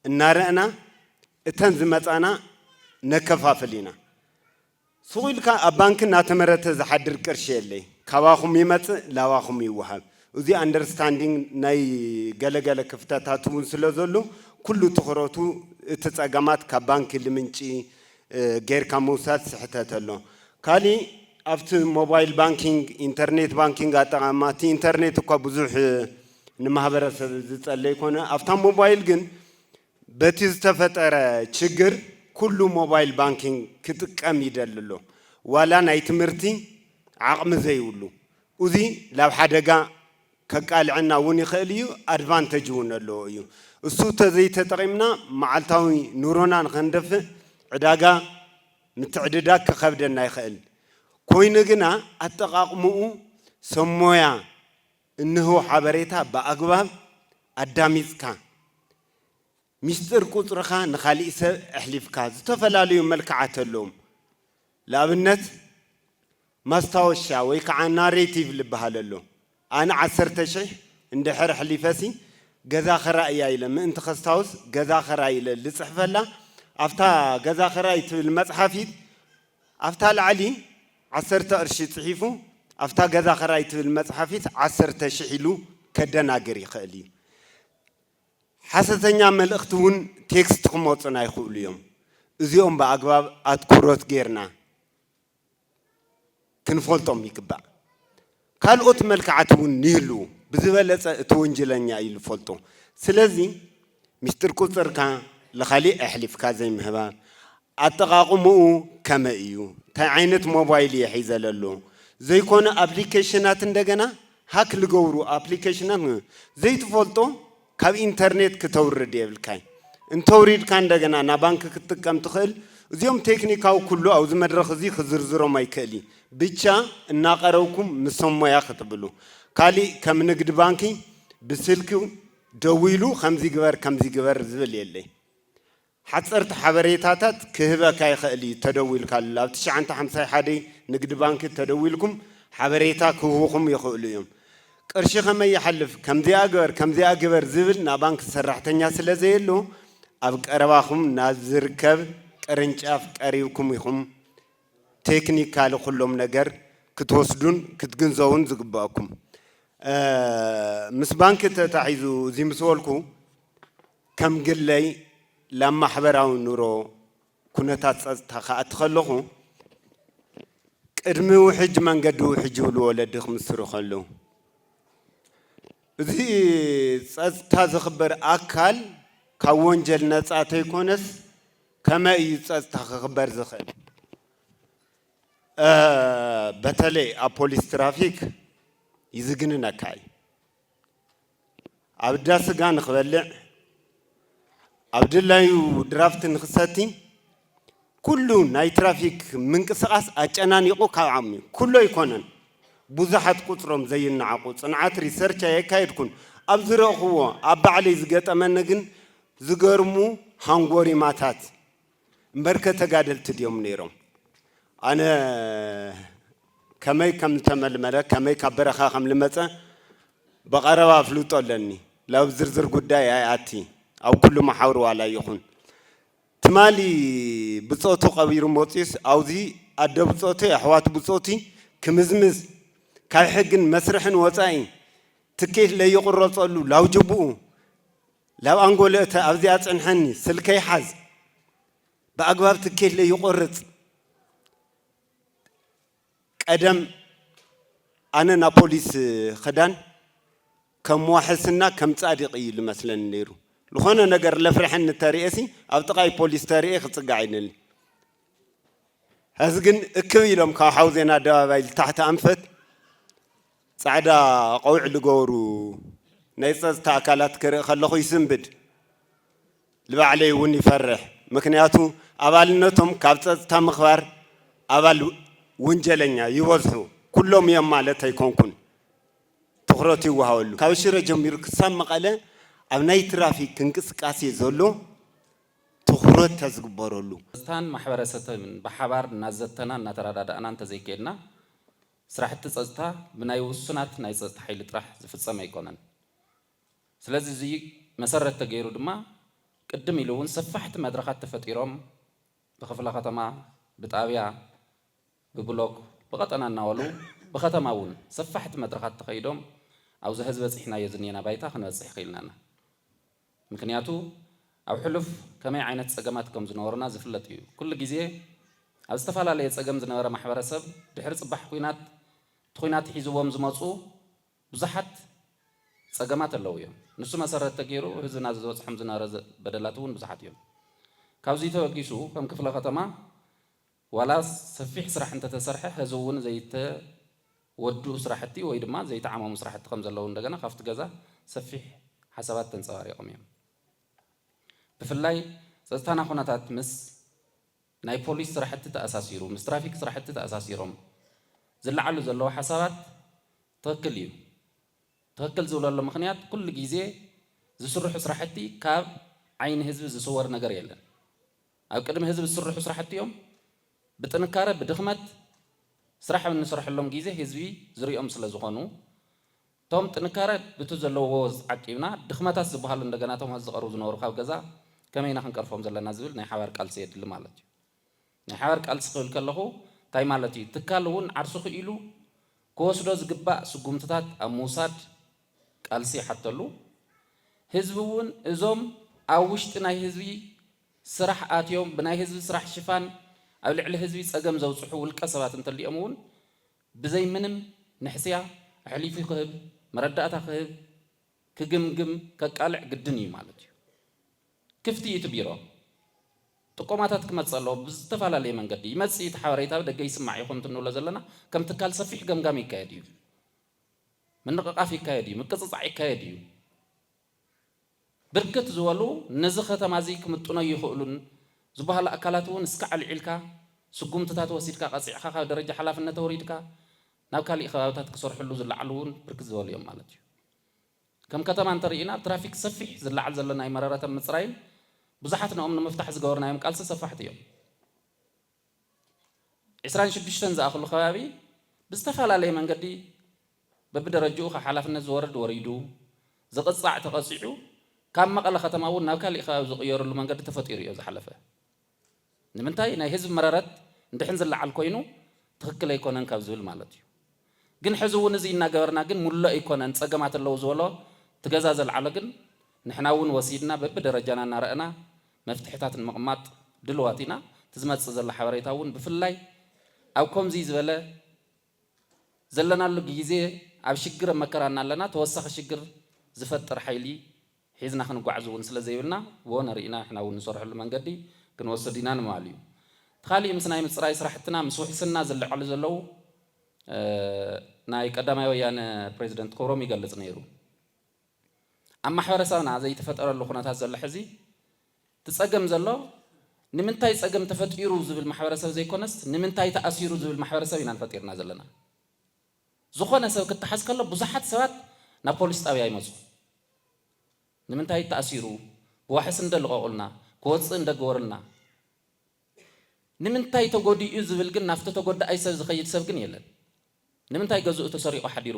እናረእና እተን ዝመፃና ነከፋፍል ኢና። ሱቕ ኢልካ ኣብ ባንኪ እናተመረተ ዝሓድር ቅርሺ የለይ። ካባኹም ይመፅእ ላባኹም ይወሃብ። እዙይ ኣንደርስታንዲንግ ናይ ገለ ገለ ክፍተታት እውን ስለዘሎ ኩሉ ትኹረቱ እቲ ፀገማት ካብ ባንኪ ልምንጪ፣ ጌርካ ምውሳድ ስሕተት ኣሎ። ካሊእ ኣብቲ ሞባይል ባንኪንግ ኢንተርኔት ባንኪንግ ኣጠቓቕማ እቲ ኢንተርኔት እኳ ብዙሕ ንማህበረሰብ ዝፀለይ ኮነ ኣብታ ሞባይል ግን በቲ ዝተፈጠረ ችግር ኩሉ ሞባይል ባንኪንግ ክጥቀም ይደሊ ኣሎ ዋላ ናይ ትምህርቲ ዓቕሚ ዘይብሉ ኡዚ ላብ ሓደጋ ከቃልዐና ውን ይክእል እዩ ኣድቫንተጅ ውን ኣለዎ እዩ እሱ ተዘይተጠቂምና ማዓልታዊ ኑሮና ንከንደፍእ ዕዳጋ ምትዕድዳግ ክከብደና ይክእል ኮይኑ ግና ኣጠቃቅሙኡ ሰብ ሞያ እንህቦ ሓበሬታ ብኣግባብ ኣዳሚፅካ ሚስጥር ቁጽርኻ ንኻሊእ ሰብ እሕሊፍካ ዝተፈላለዩ መልክዓት ኣለዎም ልኣብነት ማስታወሻ ወይ ከዓ ናሬቲቭ ልብሃል ኣሎ ኣነ ዓሰርተ ሽሕ እንድሕር እሕሊፈሲ ገዛ ኽራእያ ኢለ ምእንቲ ከስታውስ ገዛ ኽራይ ኢለ ልጽሕፈላ ኣብታ ገዛ ኽራይ ትብል መጽሓፊት ኣብታ ላዕሊ ዓሰርተ ቅርሺ ጽሒፉ ኣብታ ገዛ ኽራይ ትብል መጽሓፊት ዓሰርተ ሽሕ ኢሉ ከደናግር ይኽእል እዩ ሓሰተኛ መልእኽቲ እውን ቴክስት ክመፁና ይኽእሉ እዮም። እዚኦም ብኣግባብ ኣትኩሮት ገይርና ክንፈልጦም ይግባእ። ካልኦት መልክዓት እውን ይህልው። ብዝበለፀ እቲ ወንጀለኛ እዩ ዝፈልጦ። ስለዚ ሚስጥር ቁፅርካ ለኻሊእ ኣሕሊፍካ ዘይምህባር፣ ኣጠቓቕምኡ ከመይ እዩ፣ እንታይ ዓይነት ሞባይል እየ ሒዘ ለሎ፣ ዘይኮነ ኣፕሊኬሽናት እንደገና ሃክ ልገብሩ ኣፕሊከሽናት ን ዘይትፈልጦ ካብ ኢንተርኔት ክተውርድ የብልካይ እንተውሪድካ እንደገና ናባንኪ ክትጥቀም ትክእል እዚኦም ቴክኒካዊ ኩሉ ኣብዚ መድረክ እዚ ክዝርዝሮም ኣይክእሊ ብቻ እናቀረብኩም ምስ ሰብ ሞያ ክትብሉ ካሊእ ከም ንግዲ ባንኪ ብስልኪ ደዊሉ ከምዚ ግበር ከምዚ ግበር ዝብል የለይ ሓጸርቲ ሓበሬታታት ክህበካ ይኸእል እዩ ተደዊልካሉ ኣብ ትሽዓንተ ሓምሳይ ሓደ ንግዲ ባንኪ ተደዊልኩም ሓበሬታ ክህቡኹም ይኸእሉ እዮም ቅርሺ ከመይ ይሓልፍ ከምዚኣ ግበር ከምዚኣ ግበር ዝብል ናባንኪ ሰራሕተኛ ስለ ዘየሉ ኣብ ቀረባኹም ናብ ዝርከብ ቅርንጫፍ ቀሪብኩም ኢኹም ቴክኒካሊ ኩሎም ነገር ክትወስዱን ክትግንዘቡን ዝግበእኩም ምስ ባንኪ ተታሒዙ እዚ ምስ በልኩ ከም ግለይ ላብ ማሕበራዊ ኑሮ ኩነታት ፀፅታ ክኣቲ ከለኹ ቅድሚ ውሕጅ መንገዲ ውሕጅ ይብሉ ወለዲ ክምስሩ ከለው እዚ ፀፅታ ዝኽበር ኣካል ካብ ወንጀል ነፃ ተይኮነስ ከመይ እዩ ፀፅታ ክኽበር ዝኽእል? በተለይ ኣብ ፖሊስ ትራፊክ ይዝግንነካ እዩ። ኣብ እንዳ ስጋ ንክበልዕ፣ ኣብ ድላዩ ድራፍት ንክሰቲ፣ ኩሉ ናይ ትራፊክ ምንቅስቓስ ኣጨናኒቑ ካብ ዓቕሚ እዩ። ኩሉ ኣይኮነን፣ ብዙሓት ቁፅሮም ዘይነዓቑ፣ ፅንዓት ሪሰርች ኣየካየድኩን፣ ኣብ ዝረእኹዎ ኣብ ባዕለይ ዝገጠመኒ ግን ዝገርሙ ሃንጎሪማታት፣ እምበርከ ተጋደልቲ ድዮም ነይሮም? ኣነ ከመይ ከም ዝተመልመለ፣ ከመይ ካብ በረኻ ከም ልመጸ ብቐረባ ኣፍልጦ ኣለኒ። ላብ ዝርዝር ጉዳይ ኣይኣቲ፣ ኣብ ኩሉ መሓውር ዋላ ይኹን። ትማሊ ብጾቱ ቀቢሩ መጺኡስ ኣውዚ ኣደ ብጾተይ፣ ኣሕዋት ብጾቲ ክምዝምዝ፣ ካብ ሕግን መስርሕን ወጻኢ ትኬት ለይቕረጸሉ ላውጅብኡ፣ ላብ ኣንጎለ እተ ኣብዚ ኣፅንሐኒ ስልከይ ሓዝ ብኣግባብ ትኬት ለይቆርፅ ቀደም ኣነ ናብ ፖሊስ ኽዳን ከም ዋሕስና ከም ፃዲቅ እዩ ልመስለኒ ነይሩ ልኾነ ነገር ለፍረሐኒ ተርእየሲ ኣብ ጥቃይ ፖሊስ ተርእየ ክፅጋዕ ይደሊ ሐዚ ግን እክብ ኢሎም ካብ ሓው ዜና ኣደባባይ ልታሕቲ ኣንፈት ፃዕዳ ቆብዕ ልገበሩ ናይ ፀፅታ ኣካላት ክርኢ ከለኹ ይስንብድ። ልባዕለይ እውን ይፈርሕ። ምክንያቱ ኣባልነቶም ካብ ፀፅታ ምኽባር ኣባል ውንጀለኛ ይበዝሑ። ኩሎም እዮም ማለት ኣይኮንኩን። ትኹረት ይወሃበሉ። ካብ ሽረ ጀሚሩ ክሳብ መቐለ ኣብ ናይ ትራፊክ እንቅስቃሴ ዘሎ ትኹረት ተዝግበረሉ። ጸጥታን ማሕበረሰተብን ብሓባር እናዘተና እናተረዳዳእና እንተዘይከይድና ስራሕቲ ጸጥታ ብናይ ውሱናት ናይ ጸጥታ ሓይሊ ጥራሕ ዝፍጸም ኣይኮነን። ስለዚ እዚ መሰረት ተገይሩ ድማ ቅድም ኢሉ እውን ሰፋሕቲ መድረኻት ተፈጢሮም ብክፍለ ከተማ፣ ብጣብያ፣ ብብሎክ፣ ብቐጠና እናበሉ ብከተማ እውን ሰፋሕቲ መድረኻት ተኸይዶም ኣብዚ ሀዚ በፂሕናዮ ዝኒኤና ባይታ ክንበፅሕ ኽኢልና እና። ምክንያቱ ኣብ ሕሉፍ ከመይ ዓይነት ጸገማት ከም ዝነበሩና ዝፍለጥ እዩ። ኩሉ ግዜ ኣብ ዝተፈላለየ ጸገም ዝነበረ ማሕበረሰብ ድሕሪ ጽባሕ ኩናት እቲ ኩናት ሒዝዎም ዝመጹ ብዙሓት ጸገማት ኣለዉ እዮም። ንሱ መሰረት ተገይሩ ህዝብና ዝበጽሖም ዝነበረ በደላት እውን ብዙሓት እዮም። ካብዚ ተበጊሱ ከም ክፍለ ከተማ ዋላስ ሰፊሕ ስራሕ እንተተሰርሐ ሀዚ እውን ዘይተወድኡ ስራሕቲ ወይ ድማ ዘይተዓመሙ ስራሕቲ ከምዘለዉ እንደገና ካብቲ ገዛ ሰፊሕ ሓሳባት ተንፀባሪቆም እዮም። ብፍላይ ፀፅታና ኩነታት ምስ ናይ ፖሊስ ስራሕቲ ተኣሳሲሩ ምስ ትራፊክ ስራሕቲ ተኣሳሲሮም ዝለዓሉ ዘለዉ ሓሳባት ትኽክል እዩ። ትኽክል ዝብለሉ ምኽንያት ኩሉ ግዜ ዝስርሑ ስራሕቲ ካብ ዓይኒ ህዝቢ ዝስወር ነገር የለን። ኣብ ቅድሚ ህዝቢ ዝስርሑ ስራሕቲ እዮም። ብጥንካረ ብድኽመት ስራሕ ኣብ እንሰርሐሎም ጊዜ ህዝቢ ዝሪኦም ስለዝኾኑ እቶም ጥንካረ ብቱ ዘለዎ ዓቂብና ድኽመታት ዝብሃሉ እንደገና እቶም ሀዚ ዝቐርቡ ዝነበሩ ካብ ገዛ ከመይ ኢና ክንቀርፎም ዘለና ዝብል ናይ ሓባር ቃልሲ የድሊ ማለት እዩ። ናይ ሓባር ቃልሲ ክብል ከለኹ እንታይ ማለት እዩ ትካል እውን ዓርሱ ክኢሉ ክወስዶ ዝግባእ ስጉምትታት ኣብ ምውሳድ ቃልሲ ይሓተሉ ህዝቢ እውን እዞም ኣብ ውሽጢ ናይ ህዝቢ ስራሕ ኣትዮም ብናይ ህዝቢ ስራሕ ሽፋን ኣብ ልዕሊ ህዝቢ ፀገም ዘብፅሑ ውልቀ ሰባት እንተሊኦም እውን ብዘይ ምንም ንሕስያ ኣሕሊፉ ክህብ፣ መረዳእታ ክህብ፣ ክግምግም፣ ከቃልዕ ግድን እዩ ማለት እዩ። ክፍት እዩ እቲ ቢሮ። ጥቆማታት ክመፅእ ኣለዎ ብዝተፈላለየ መንገዲ ይመፅእ እዩ እቲ ሓበሬታ ብደገ ይስማዕ እዩ ከምቲ እንብሎ ዘለና ከም ትካል ሰፊሕ ገምጋም ይካየድ እዩ። ምንቕቓፍ ይካየድ እዩ። ምቅፅፃዕ ይካየድ እዩ። ብርክት ዝበሉ ነዚ ከተማ እዚ ክምጥኖ ይኽእሉን ዝበሃሉ ኣካላት እውን እስካዕ ኣልዒልካ ስጉምትታት ወሲድካ ቀፂዕኻ ካብ ደረጃ ሓላፍነት ኣውሪድካ ናብ ካሊእ ከባብታት ክሰርሕሉ ዝለዓሉ እውን ብርክት ዝበሉ እዮም ማለት እዩ። ከም ከተማ እንተሪኢና ትራፊክ ሰፊሕ ዝለዓል ዘሎ ናይ መረረተ ምፅራይን ብዙሓት ንኦም ንምፍታሕ ዝገበርናዮም ቃልሲ ሰፋሕቲ እዮም። ዕስራን ሽዱሽተን ዝኣኽሉ ከባቢ ብዝተፈላለየ መንገዲ በብደረጅኡ ካብ ሓላፍነት ዝወርድ ወሪዱ፣ ዝቕጻዕ ተቐጺዑ ካብ መቐለ ከተማ እውን ናብ ካሊእ ከባቢ ዝቕየርሉ መንገዲ ተፈጢሩ እዮ ዝሓለፈ። ንምንታይ ናይ ህዝቢ መረረት ንድሕን ዝለዓል ኮይኑ ትኽክል ኣይኮነን ካብ ዝብል ማለት እዩ። ግን ሕዚ እውን እዙይ እናገበርና ግን ሙሉእ ኣይኮነን ፀገማት ኣለው ዝበሎ እቲ ገዛ ዘልዓሎ ግን ንሕና እውን ወሲድና በቢደረጃና እናረእና መፍትሕታት ንምቕማጥ ድልዋት ኢና እቲ ዝመፅእ ዘሎ ሓበሬታ እውን ብፍላይ ኣብ ኮምዙይ ዝበለ ዘለናሉ ግይዜ ኣብ ሽግር ኣብ መከራ እናለና ተወሳኺ ሽግር ዝፈጥር ሓይሊ ሒዝና ክንጓዕዝ እውን ስለ ዘይብልና ብወነ ርኢና ንሕና እውን ንሰርሐሉ መንገዲ ክንወስድ ኢና ንምባል እዩ። እቲ ካሊእ ምስ ናይ ምፅራይ ስራሕትና ምስ ውሕስና ዝለዓሉ ዘለዉ ናይ ቀዳማይ ወያነ ፕሬዚደንት ክብሮም ይገልፅ ነይሩ። ኣብ ማሕበረሰብና ዘይተፈጠረሉ ኩነታት ዘሎ ሕዚ እቲ ፀገም ዘሎ ንምንታይ ፀገም ተፈጢሩ ዝብል ማሕበረሰብ ዘይኮነስ ንምንታይ ተኣሲሩ ዝብል ማሕበረሰብ ኢና ንፈጢርና ዘለና። ዝኾነ ሰብ ክተሓዝ ከሎ ብዙሓት ሰባት ናብ ፖሊስ ጣብያ ይመፁ። ንምንታይ እዩ ተኣሲሩ? ብዋሕስ እንዶ ልቐቑልና፣ ክወፅእ እንዶ ግበሩልና፣ ንምንታይ ተጎዲኡ ዝብል ግን ናብቲ ተጎዳኣይ ሰብ ዝኸይድ ሰብ ግን የለን። ንምንታይ ገዝኡ ተሰሪቑ ሓዲሩ፣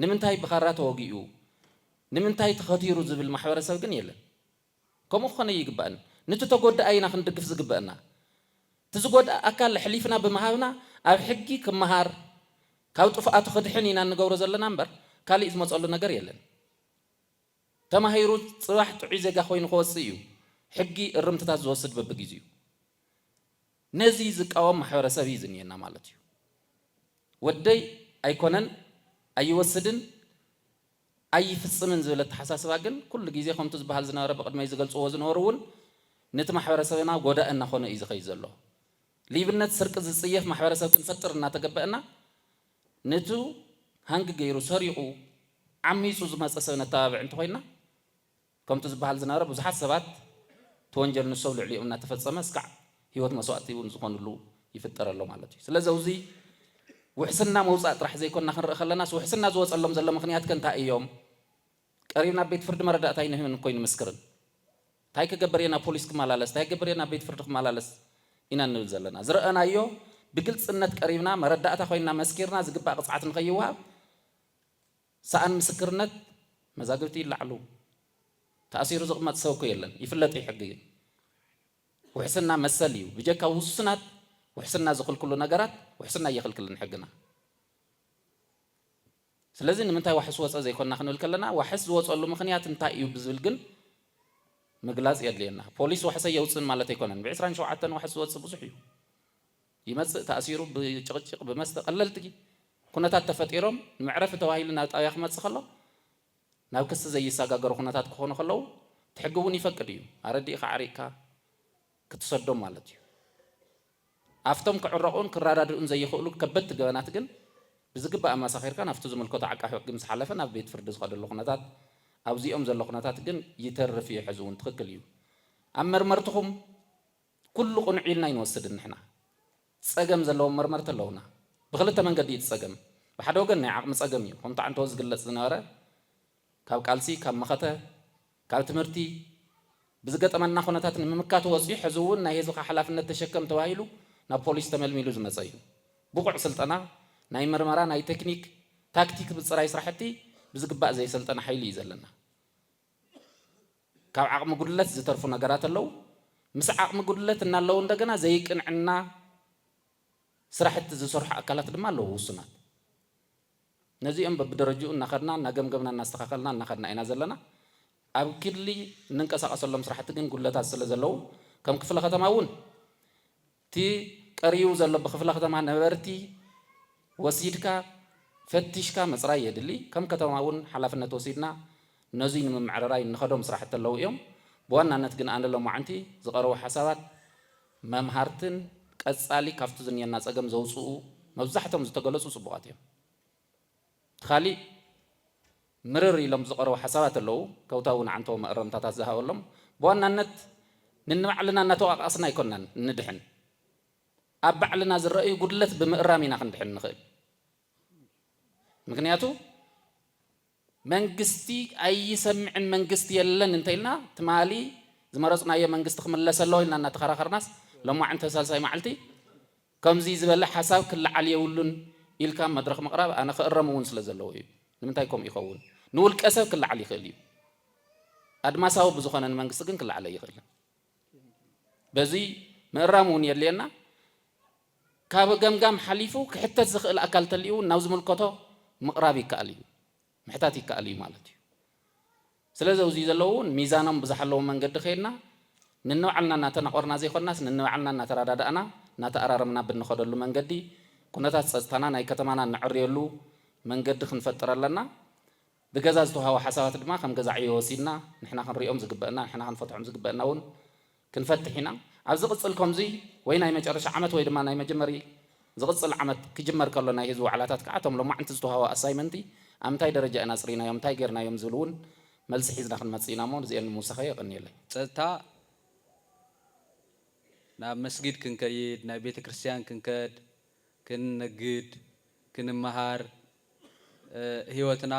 ንምንታይ ብኻራ ተወጊኡ፣ ንምንታይ ተኸቲሩ ዝብል ማሕበረሰብ ግን የለን። ከምኡ ክኾን ኣይግባእን። ንቲ ተጎዳኣይ ኢና ክንድግፍ ዝግበእና። እቲ ዝጎድኣ ኣካል ኣሕሊፍና ብምሃብና ኣብ ሕጊ ክመሃር ካብ ጥፍኣቱ ክድሕን ኢና እንገብሮ ዘለና እምበር ካሊእ ዝመፀሉ ነገር የለን። ተማሂሩ ፅባሕ ጥዑይ ዜጋ ኮይኑ ክወፅእ እዩ ሕጊ እርምትታት ዝወስድ በብጊዚኡ። ነዚ ዝቃወም ማሕበረሰብ እዩ ዝኒኤና ማለት እዩ። ወደይ ኣይኮነን ኣይወስድን። ኣይፍጽምን ዝብል ኣተሓሳስባ ግን ኩሉ ግዜ ከምቱ ዝበሃል ዝነበረ ብቕድመይ ዝገልጽዎ ዝነበሩ እውን ንቲ ማሕበረሰብና ጎዳኢ እናኾነ እዩ ዝኸይድ ዘሎ። ሊብነት ስርቂ ዝጽየፍ ማሕበረሰብ ክንፈጥር እናተገበእና ንቱ ሃንግ ገይሩ ሰሪቑ ዓሚጹ ዝመጸ ሰብ ነተባብዕ እንተኾይንና ከምቱ ዝበሃል ዝናረ ብዙሓት ሰባት እቲ ወንጀል ንሱ ኣብ ልዕሊኦም እናተፈፀመ እስካዕ ህይወት መስዋእቲ እውን ዝኾንሉ ይፍጠር ኣሎ ማለት እዩ። ስለዚ ኣብዙይ ውሕስና መውፃእ ጥራሕ ዘይኮና ክንርኢ ከለናስ ውሕስና ዝወፀሎም ዘሎ ምኽንያት ከ እንታይ እዮም? ቀሪብና ኣብ ቤት ፍርዲ መረዳእታ ኣይንህብን እኮ ኣይንምስክርን። እንታይ ክገብር እየ ናብ ፖሊስ ክመላለስ፣ እንታይ ክገብር እየ ናብ ቤት ፍርዲ ክመላለስ ኢና እንብል ዘለና። ዝረኣናዮ ብግልፅነት ቀሪብና መረዳእታ ኮይንና መስኪርና ዝግባእ ቅፅዓት ንከይወሃብ ሰኣን ምስክርነት መዛግብቲ ይለዓሉ ተኣሲሩ ዝቅመጥ ሰብ እኮ የለን ይፍለጥ እዩ ሕጊ ግን ውሕስና መሰል እዩ ብጀካ ውሱናት ውሕስና ዝክልክሉ ነገራት ውሕስና እየክልክልን ሕግና ስለዚ ንምንታይ ዋሕስ ወፀ ዘይኮና ክንብል ከለና ዋሕስ ዝወፀሉ ምክንያት እንታይ እዩ ብዝብል ግን ምግላፅ የድልየና ፖሊስ ዋሕሰ የውፅን ማለት ኣይኮነን ብዕስራን ሸውዓተን ዋሕስ ዝወፅ ብዙሕ እዩ ይመጽእ ተኣሲሩ ብጭቕጭቕ ብመስተ ቀለልቲ ኩነታት ተፈጢሮም ንመዕረፊ ተባሂሉ ናብ ጣብያ ክመጽእ ከሎ ናብ ክሲ ዘይሳጋገሩ ኩነታት ክኾኑ ከለዉ እቲ ሕጊ ውን ይፈቅድ እዩ ኣረዲእኻ ኣዕሪቕካ ክትሰዶም ማለት እዩ ኣፍቶም ክዕረቑን ክራዳድኡን ዘይኽእሉ ከበድቲ ገበናት ግን ብዝግባእ ኣማሳኺርካ ናብቲ ዝምልከቶ ዓቃፊ ሕጊ ምስ ሓለፈ ናብ ቤት ፍርዲ ዝኸደሉ ኩነታት ኣብዚኦም ዘሎ ኩነታት ግን ይተርፍ እዩ ሕዚ ውን ትኽክል እዩ ኣብ መርመርትኹም ኩሉ ቅኑዕ ኢልና ኣይንወስድን ንሕና። ጸገም ዘለዎም መርመርቲ ኣለዉና። ብኽልተ መንገዲ እዩ እቲ ጸገም። ብሓደ ወገን ናይ ዓቕሚ ጸገም እዩ፣ ከምቲ ዓንተቦ ዝግለጽ ዝነበረ ካብ ቃልሲ፣ ካብ መኸተ፣ ካብ ትምህርቲ ብዝገጠመና ኩነታት ንምምካት ወጺኡ ሕዚ እውን ናይ ህዝብኻ ሓላፍነት ተሸከም ተባሂሉ ናብ ፖሊስ ተመልሚሉ ዝመጸ እዩ። ብቑዕ ስልጠና ናይ ምርመራ፣ ናይ ቴክኒክ፣ ታክቲክ ምጽራይ ስራሕቲ ብዝግባእ ዘይሰልጠነ ሓይሊ እዩ ዘለና። ካብ ዓቕሚ ጉድለት ዝተርፉ ነገራት ኣለው። ምስ ዓቕሚ ጉድለት እናለው እንደገና ዘይቅንዕና ስራሕቲ ዝሰርሑ ኣካላት ድማ ኣለው ውሱናት። ነዚኦም በብደረጅኡ እናኸድና እናገምገምና እናስተኻኸልና እናኸድና ኢና ዘለና። ኣብ ክሊ እንንቀሳቐሰሎም ስራሕቲ ግን ጉድለታት ስለዘለው ከም ክፍለ ከተማ እውን እቲ ቀሪቡ ዘሎ ብክፍለ ከተማ ነበርቲ ወሲድካ ፈቲሽካ ምፅራይ የድሊ። ከም ከተማ እውን ሓላፍነት ወሲድና ነዙይ ንምምዕርራይ እንኸዶም ስራሕቲ ኣለው እዮም። ብዋናነት ግን ኣነ ሎማዕንቲ ዝቐረቡ ሓሳባት መምሃርትን ቀፃሊ ካፍቲ ዝኒሀና ፀገም ዘውፅኡ መብዛሕቶም ዝተገለፁ ፅቡቓት እዮም። እቲ ካሊእ ምርር ኢሎም ዝቐረቡ ሓሳባት ኣለዉ፣ ከውታ እውን ዓንተቦ መእረምታታት ዝሃበሎም፣ ብዋናነት ንንባዕልና እናተወቓቓስና ኣይኮናን እንድሕን፣ ኣብ ባዕልና ዝረኣዩ ጉድለት ብምእራም ኢና ክንድሕን ንኽእል፣ ምኽንያቱ መንግስቲ ኣይሰምዕን መንግስቲ የለን እንተኢልና ትማሊ ዝመረፅናዮ መንግስቲ ክምለስ ኣለዎ ኢልና እናተኸራኸርናስ ሎማዕንቲ ሳልሳይ መዓልቲ ከምዚ ዝበለ ሓሳብ ክለዓል የብሉን ኢልካ ኣብ መድረኽ ምቕራብ ኣነ ክእረም እውን ስለ ዘለዎ እዩ። ንምንታይ ከምኡ ይኸውን? ንውልቀ ሰብ ክለዓል ይኽእል እዩ። ኣድማሳዊ ብዝኾነ ንመንግስቲ ግን ክለዓል ኣይኽእልን። በዚ ምእራም እውን የድልየና። ካብ ገምጋም ሓሊፉ ክሕተት ዝኽእል ኣካል ተልዩ እውን ናብ ዝምልከቶ ምቕራብ ይከኣል እዩ። ምሕታት ይከኣል እዩ ማለት እዩ። ስለዚ ኣብዙይ ዘለዉ እውን ሚዛኖም ብዝሓለወ መንገዲ ከይድና ንንባዕልና እናተናቖርና ዘይኮናስ ንንባዕልና እናተረዳዳእና እናተኣራረምና ብንኸደሉ መንገዲ ኩነታት ፀፅታና ናይ ከተማና እነዐርየሉ መንገዲ ክንፈጥር ኣለና። ብገዛ ዝተውሃቡ ሓሳባት ድማ ከም ገዛ ዕዮ ወሲድና ንሕና ክንሪኦም ዝግበእና ንሕና ክንፈትሖም ዝግበእና እውን ክንፈትሕ ኢና ኣብ ዝቅጽል ኮምዙይ ወይ ናይ መጨረሻ ዓመት ወይ ድማ ናይ መጀመሪ ዝቅጽል ዓመት ክጅመር ከሎ ናይ ህዝቢ ዋዕላታት ከኣ እቶም ሎማዕንቲ ዝተዋህቡ ኣሳይመንቲ ኣብ እንታይ ደረጃ ኢና ኣጽሪናዮም እንታይ ገርናዮም ዝብል ውን መልሲ ሒዝና ክንመጽእ ኢና እሞ ንዚኤን ንምውሳኸ የቀንየለይ። ጸጥታ ናብ መስጊድ ክንከይድ ናብ ቤተ ክርስትያን ክንከድ ክንነግድ ክንመሃር ሂወትና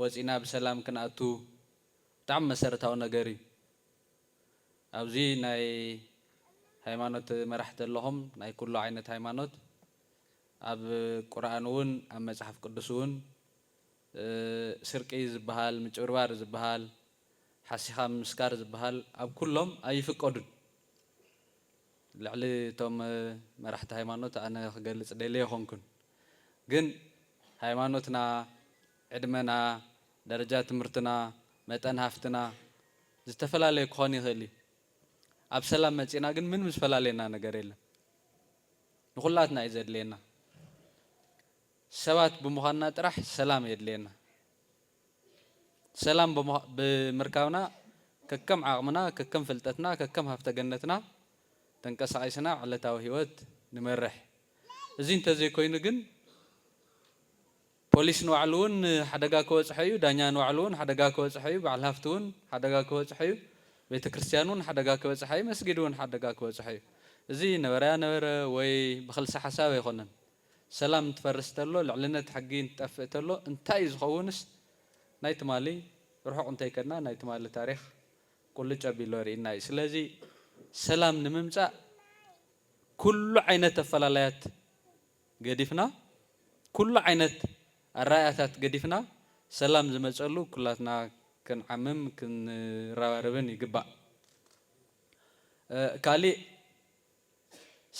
ወጺና ብሰላም ክንኣቱ ብጣዕሚ መሰረታዊ ነገር እዩ። ኣብዚ ናይ ሃይማኖት መራሕቲ ኣለኹም ናይ ኩሉ ዓይነት ሃይማኖት ኣብ ቁርኣን ውን ኣብ መጽሓፍ ቅዱስ ውን ስርቂ ዝብሃል ምጭብርባር ዝብሃል ሓሲኻ ምምስካር ዝብሃል ኣብ ኩሎም ኣይፍቀዱን ልዕሊ እቶም መራሕቲ ሃይማኖት ኣነ ክገልጽ ደልየ ኣይኮንኩን ግን ሃይማኖትና ዕድመና፣ ደረጃ ትምህርትና፣ መጠን ሃፍትና ዝተፈላለየ ክኾን ይኽእል እዩ። ኣብ ሰላም መጺእና ግን ምንም ዝፈላልየና ነገር የለን። ንኹላትና እዩ ዘድልየና። ሰባት ብምዃንና ጥራሕ ሰላም የድልየና። ሰላም ብምርካብና ከከም ዓቕምና፣ ከከም ፍልጠትና፣ ከከም ሃፍተ ገነትና ተንቀሳቒስና ዕለታዊ ህይወት ንመርሕ። እዚ እንተዘይኮይኑ ግን፣ ፖሊስ ንባዕሉውን ሓደጋ ክበጽሖ እዩ፣ ዳኛ ንባዕሉውን ሓደጋ ክበጽሖ እዩ፣ በዓል ሃፍቲውን ሓደጋ ክበጽሖ እዩ፣ ቤተ ክርስቲያንውን ሓደጋ ክበጽሓ እዩ፣ መስጊድውን ሓደጋ ክበጽሖ እዩ። እዚ ነበረያ ነበረ ወይ ብክልሰ ሓሳብ ኣይኮነን። ሰላም እንትፈርስ ተሎ፣ ልዕልነት ሕጊ እንትጠፍእ ተሎ እንታይ እዩ ዝኸውንስ ናይ ትማሊ ርሑቕ እንተይከድና ናይ ትማሊ ታሪኽ ቁልጭ ኣቢሉ ኣርእዩና እዩ። ስለዚ ሰላም ንምምጻእ ኩሉ ዓይነት ኣፈላላያት ገዲፍና ኩሉ ዓይነት ኣረኣእያታት ገዲፍና ሰላም ዝመፀሉ ኩላትና ክንዓምም ክንረባረብን ይግባእ። ካሊእ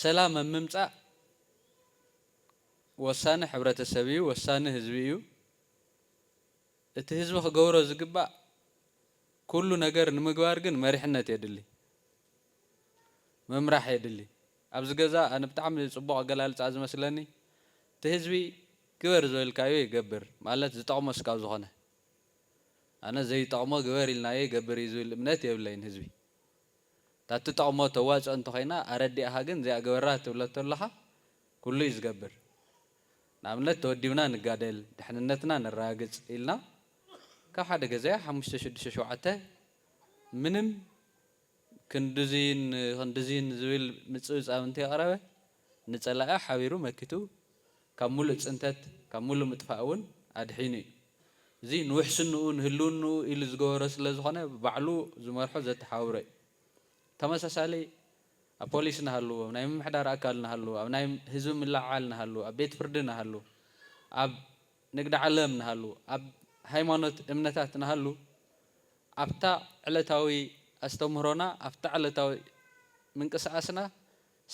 ሰላም ኣብ ምምፃእ ወሳኒ ሕብረተሰብ እዩ፣ ወሳኒ ህዝቢ እዩ። እቲ ህዝቢ ክገብሮ ዝግባእ ኩሉ ነገር ንምግባር ግን መሪሕነት የድሊ፣ ምምራሕ የድሊ። ኣብዚ ገዛ ኣነ ብጣዕሚ ጽቡቕ ኣገላልጻ ዝመስለኒ እቲ ህዝቢ ግበር ዝበልካዮ ይገብር ማለት ዝጠቕሞ ስካብ ዝኾነ ኣነ ዘይጠቕሞ ግበር ኢልናዮ ይገብር እዩ ዝብል እምነት የብለይን ህዝቢ እታ ትጠቕሞ ተዋጽኦ እንተኾይና ኣረዲእኻ ግን እዚኣ ግበራ ትብሎ ተለኻ ኩሉ እዩ ዝገብር ንኣብነት ተወዲብና ንጋደል ድሕንነትና ነራጋግጽ ኢልና ካብ ሓደ ገዛ ሓሙሽተ ሽዱሽተ ሸውዓተ ምንም ክንድዚን ክንድዚን ዝብል ምጽብጻብ እንተየቕረበ፣ ንጸላኢ ሓቢሩ መኪቱ ካብ ምሉእ ጽንተት፣ ካብ ምሉእ ምጥፋእ እውን ኣድሒኑ እዩ። እዚ ንውሕስንኡ፣ ንህልውንኡ ኢሉ ዝገበሮ ስለ ዝኾነ ባዕሉ ዝመርሖ ዘተሓባብሮ እዩ። ብተመሳሳሊ ኣብ ፖሊስ ንሃሉ፣ ኣብ ናይ ምምሕዳር ኣካል ንሃሉ፣ ኣብ ናይ ህዝቢ ምልዕዓል ንሃሉ፣ ኣብ ቤት ፍርዲ ንሃሉ፣ ኣብ። ንግደ ዓለም ንሃሉ፣ ኣብ ሃይማኖት እምነታት ንሃሉ፣ ኣብታ ዕለታዊ ኣስተምህሮና፣ ኣብታ ዕለታዊ ምንቅስቓስና፣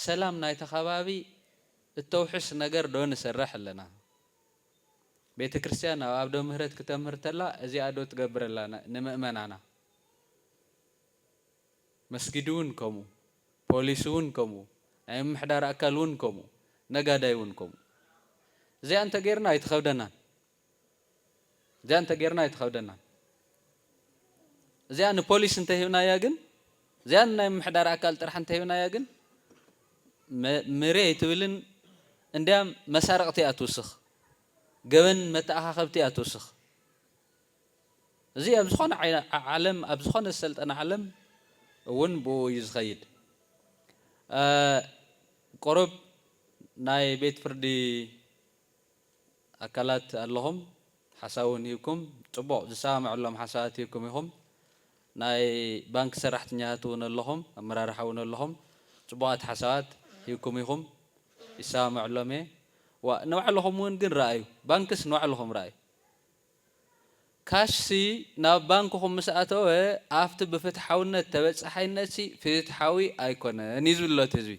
ሰላም ናይ'ቲ ከባቢ እተውሕስ ነገር ዶ ንሰርሕ ኣለና? ቤተ ክርስቲያን ኣብ ኣዶ ምህረት ክተምህር ተላ እዚኣ ዶ ትገብር ኣላ ንመእመናና? መስጊድውን ከምኡ፣ ፖሊስውን ከምኡ፣ ናይ ምምሕዳር ኣካልውን ከምኡ፣ ነጋዳይውን ከምኡ። እዚኣ እንተ ጌርና ኣይትኸብደናን። እዚኣ እንተ ጌርና ኣይትኸብደናን። እዚኣ ንፖሊስ እንተ ሂብናያ ግን፣ እዚኣ ንናይ ምምሕዳር ኣካል ጥራሕ እንተ ሂብናያ ግን፣ መሬ ኣይትብልን፣ እንድያም መሳርቕቲ እያ ትውስኽ፣ ገበን መተኣኻኸብቲ እያ ትውስኽ። እዚ ኣብ ዝኾነ ዓለም ኣብ ዝኾነ ዝሰልጠነ ዓለም እውን ብኡ እዩ ዝኸይድ። ቁሩብ ናይ ቤት ፍርዲ ኣካላት ኣለኹም ሓሳብ እውን ሂብኩም ፅቡቕ ዝሰማምዐሎም ሓሳባት ሂብኩም ኢኹም። ናይ ባንኪ ሰራሕተኛታት እውን ኣለኹም ኣመራርሓ እውን ኣለኹም ፅቡቓት ሓሳባት ሂብኩም ኢኹም ይሰማምዐሎም እየ። ንባዕልኹም እውን ግን ረኣዩ ባንክስ ንባዕልኹም ረኣዩ። ካሽሲ ናብ ባንክኹም ምስ ኣተወ ኣብቲ ብፍትሓውነት ተበጻሓይነትሲ ፍትሓዊ ኣይኮነን እዩ ዝብልሎ እቲ ህዝቢ።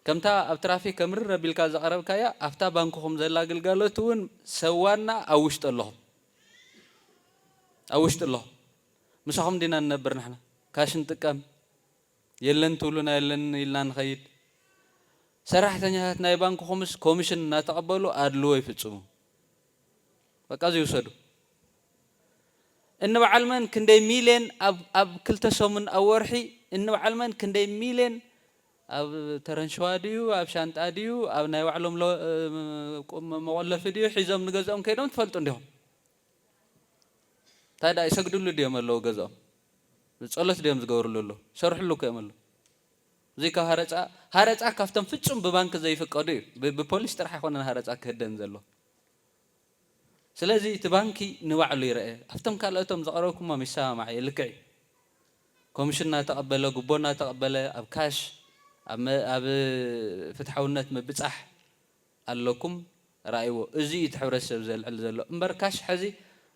ከምታ ኣብ ትራፊክ ከምርር ኣቢልካ ዘቕረብካያ ኣብታ ባንክኹም ዘላ ግልጋሎት እውን ሰብ ዋና ኣብ ውሽጢ ኣለኹም ኣብ ውሽጢ ኣለኹም ምሳኹም ዲና ንነብር ንሕና ካሽ ንጥቀም የለን ትብሉና የለን ኢልና ንኸይድ። ሰራሕተኛታት ናይ ባንክኹምስ ኮሚሽን እናተቐበሉ ኣድልዎ ይፍፅሙ። በቃ እዙይ ውሰዱ። እንበዓል መን ክንደይ ሚልየን ኣብ ክልተ ሰሙን ኣብ ወርሒ እንበዓል መን ክንደይ ሚልየን ኣብ ተረንሸዋ ድዩ ኣብ ሻንጣ ድዩ ኣብ ናይ ባዕሎም መቖለፊ ድዩ ሒዞም ንገዝኦም ከይዶም ትፈልጡ እንዲኹም። እንታይ ድኣ ይሰግድሉ ድዮም ኣለዉ ገዝኦም ጸሎት ድዮም ዝገብርሉ ኣለዉ ይሰርሕሉ እኮ እዮም ኣለዉ እዚ ካብ ሃረጻ ሃረጻ ካብቶም ፍጹም ብባንኪ ዘይፍቀዱ እዩ ብፖሊስ ጥራሕ ኣይኮነን ሃረጻ ክህደን ዘሎ ስለዚ እቲ ባንኪ ንባዕሉ ይረአ ኣብቶም ካልኦቶም ዘቕረብኩሞም ይሰማማዕ እየ ልክዕ እዩ ኮሚሽን እናተቐበለ ጉቦ እናተቐበለ ኣብ ካሽ ኣብ ፍትሓውነት ምብጻሕ ኣለኩም ራኣይዎ እዚ እዩ እቲ ሕብረተሰብ ዘልዕል ዘሎ እምበር ካሽ ሐዚ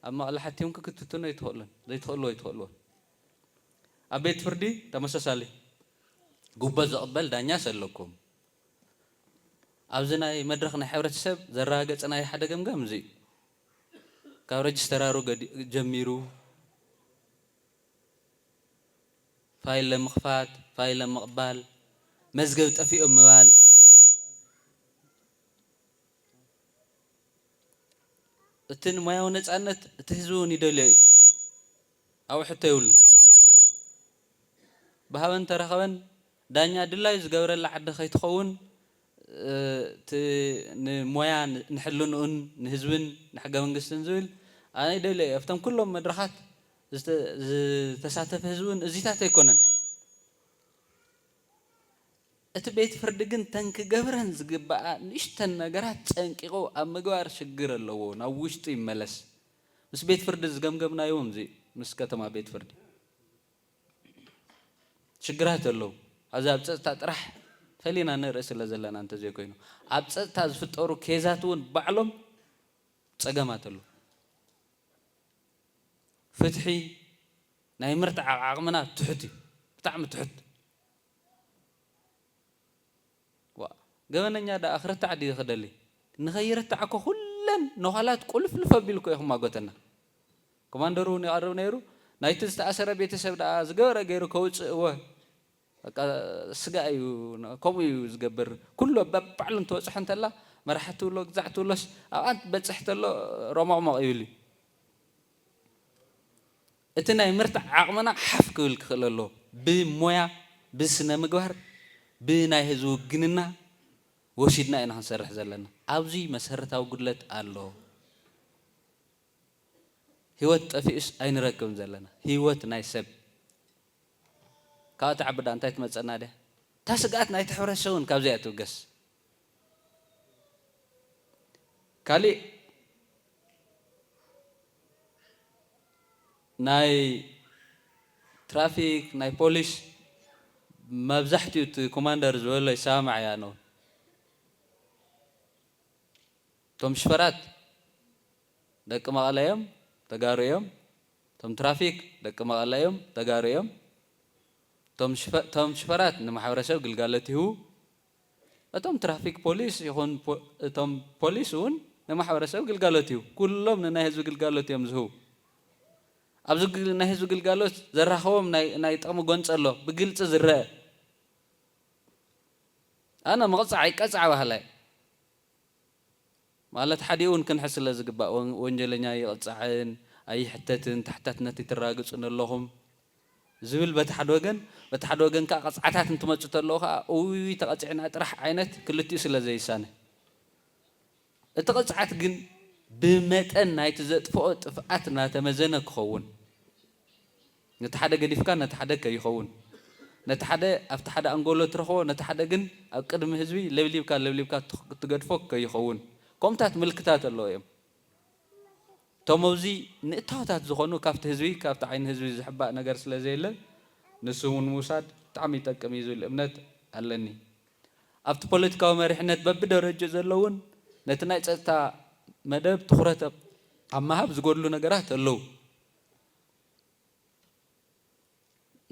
ኣብ መቐለ ሓቲዮም ክክትትኑ ኣይትኽእሉን ዘይትኽእልዎ ኣይትኽእልዎን ኣብ ቤት ፍርዲ ተመሳሳሊ ጉቦ ዝቕበል ዳኛስ ኣለኩም ኣብዚ ናይ መድረኽ ናይ ሕብረተሰብ ዘረጋገፅናዮ ሓደ ገምጋም እዚ እዩ ካብ ረጅስተራሩ ጀሚሩ ፋይለ ምኽፋት፣ ፋይለ ምቕባል፣ መዝገብ ጠፊኡ ምባል፣ እቲ ንሞያዊ ነጻነት እቲ ህዝቢ እውን ይደልዮ እዩ፣ ኣብኡ ሕቶ የብሉን። ብሃበን ተረኸበን ዳኛ ድላዩ ዝገብረላ ዓዲ ከይትኸውን እቲ ንሞያ ንሕልንኡን ንህዝብን ንሕገ መንግስትን ዝብል ኣነ ይደልዮ እየ ኣብቶም ኩሎም መድረኻት ዝተሳተፈ ህዝቢ እውን እዚታት ኣይኮነን። እቲ ቤት ፍርዲ ግን እተን ክገብረን ዝግበኣ ንእሽተን ነገራት ፀንቂቑ ኣብ ምግባር ሽግር ኣለዎ ናብ ውሽጡ ይመለስ ምስ ቤት ፍርዲ ዝገምገምናዮ እውን እዚ እዩ ምስ ከተማ ቤት ፍርዲ ሽግራት ኣለዉ ኣብዚ ኣብ ፀፅታ ጥራሕ ፈሊና ንርኢ ስለ ዘለና እንተዘይኮይኑ ኣብ ፀፅታ ዝፍጠሩ ኬዛት እውን ባዕሎም ፀገማት ኣለዉ ፍትሒ ናይ ምርትዓቕ ዓቕምና ትሑት እዩ ብጣዕሚ ትሑት። ዋእ ገበነኛ ደኣ ክርታዕ ድዩ ክደሊ ንከይርታዕ እኮ ኩለን ነዃላት ቁልፍልፍ ኣቢሉ እኮ እዩ ክማጎተና። ኮማንደር እውን ይቐርብ ነይሩ ናይቲ ዝተኣሰረ ቤተሰብ ደኣ ዝገበረ ገይሩ ከውጽእወ። በቃ ስጋ እዩ ከምኡ እዩ ዝገብር ኩሎ በባዕሉ እንትበጽሖ እንተላ መራሒ ትብሎ ግዛዕ ትብሎስ ኣብኣ እንትበጽሕ ተሎ ሮሞቕሞቕ ይብል እዩ እቲ ናይ ምርታዕ ዓቕምና ሓፍ ክብል ክኽእል ኣለዎ ብሞያ ብስነ ምግባር ብናይ ህዝቢ ውግንና ወሲድና ኢና ክንሰርሕ ዘለና ኣብዚ መሰረታዊ ጉድለት ኣሎ ሂወት ጠፊኡስ ኣይንረክብን ዘለና ሂወት ናይ ሰብ ካብኣ ትዓቢ ድኣ እንታይ ትመጸና ድያ? እታ ስግኣት ናይቲ ሕብረተሰብ እውን ካብዚኣ ትብገስ። ካሊእ ናይ ትራፊክ ናይ ፖሊስ መብዛሕቲኡ እቲ ኮማንደር ዝበሎ ይሰማማዕ እየ ኣነ እውን እቶም ሽፈራት ደቂ መቐለ እዮም ተጋሩ እዮም እቶም ትራፊክ ደቂ መቐለ እዮም ተጋሩ እዮም እቶም ሽፈራት ንማሕበረሰብ ግልጋሎት ይህቡ እቶም ትራፊክ ፖሊስ ይኹን እቶም ፖሊስ እውን ንማሕበረሰብ ግልጋሎት ይህቡ ኩሎም ንናይ ህዝቢ ግልጋሎት እዮም ዝህቡ ኣብዚ ናይ ህዝቢ ግልጋሎት ዘራኸቦም ናይ ጥቕሚ ጎንፂ ኣሎ ብግልፂ ዝረአ ኣነ መቕፃዕ ይቀፃዕ በሃላይ ማለት ሓዲኡ ውን ክንሕዝ ስለ ዝግባእ ወንጀለኛ ኣይቕጻዕን ኣይሕተትን ተሓታትነት ኣይትራግጹ ነለኹም ዝብል በቲ ሓደ ወገን በቲ ሓደ ወገን ከኣ ቅጽዓታት እንትመጹ ተለዉ ከኣ ኡይ ተቐጺዕና ጥራሕ ዓይነት ክልቲኡ ስለ ዘይሳነ እቲ ቅጽዓት ግን ብመጠን ናይቲ ዘጥፍኦ ጥፍኣት ናተመዘነ ክኸውን ነቲ ሓደ ገዲፍካ ነቲ ሓደ ከይኸውን ነቲ ሓደ ኣብቲ ሓደ ኣንጎሎ ትረኽቦ ነቲ ሓደ ግን ኣብ ቅድሚ ህዝቢ ለብሊብካ ለብሊብካ ትገድፎ ከይኸውን ከምኡታት ምልክታት ኣለዉ እዮም እቶምብዚ ንእታወታት ዝኾኑ ካብቲ ህዝቢ ካብቲ ዓይኒ ህዝቢ ዝሕባእ ነገር ስለዘየለ ንሱውን ምውሳድ ብጣዕሚ ይጠቅም እዩ ዝብል እምነት ኣለኒ ኣብቲ ፖለቲካዊ መሪሕነት በብደረጅኡ ዘለውን ነቲ ናይ ፀጥታ መደብ ትኹረት ኣብ ምሃብ ዝጎድሉ ነገራት ኣለዉ።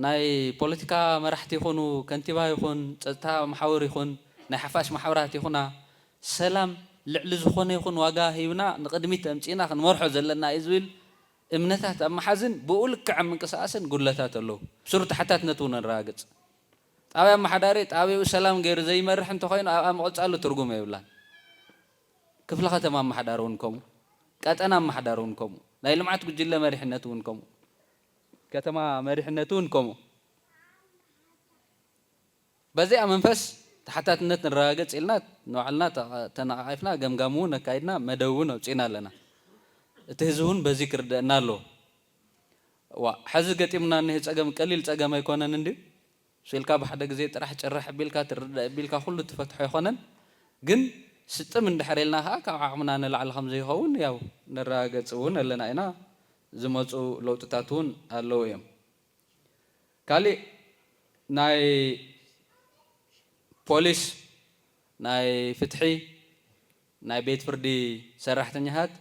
ናይ ፖለቲካ መራሕቲ ይኹኑ ከንቲባ ይኹን ፀጥታ መሓውር ይኹን ናይ ሓፋሽ ማሕበራት ይኹና ሰላም ልዕሊ ዝኾነ ይኹን ዋጋ ሂብና ንቕድሚት ኣምፂእና ክንመርሖ ዘለና እዩ ዝብል እምነታት ኣብ ምሓዝን ብኡ ልክዕ ኣብ ምንቅስቓስን ጉድለታት ኣለዉ። ብስሩ ተሓታትነት እውን ነረጋግፅ። ጣብያ ኣመሓዳሪ ጣብይኡ ሰላም ገይሩ ዘይመርሕ እንተኾይኑ ኣብኣ ምቕፃሉ ትርጉም የብላን። ክፍለ ከተማ ኣማሓዳሪ እውን ከምኡ፣ ቀጠና ኣማሓዳሪ እውን ከምኡ፣ ናይ ልምዓት ጉጅለ መሪሕነት እውን ከምኡ፣ ከተማ መሪሕነት እውን ከምኡ። በዚኣ መንፈስ ተሓታትነት ንረጋገፅ ኢልና ንባዕልና ተነቓቒፍና ገምጋም እውን ኣካይድና መደብ እውን ኣውፂእና ኣለና። እቲ ህዝቢ እውን በዚ ክርደኣና ኣለዎ። እዋእ! ሐዚ ገጢሙና እኒሀ ፀገም ቀሊል ፀገም ኣይኮነን እንድዩ? ሱቅ ኢልካ ብሓደ ግዜ ጥራሕ ጭርሕ ኣቢልካ ትርዳእ ኣቢልካ ኩሉ ትፈትሖ ኣይኮነን ግን ስጥም እንድሕር ኢልና ከኣ ካብ ዓቅምና ንላዕሊ ከም ዘይኸውን ያው ነረጋገጽ እውን ኣለና ኢና ዝመጹ ለውጥታት እውን ኣለዉ እዮም ካሊእ ናይ ፖሊስ ናይ ፍትሒ ናይ ቤት ፍርዲ ሰራሕተኛታት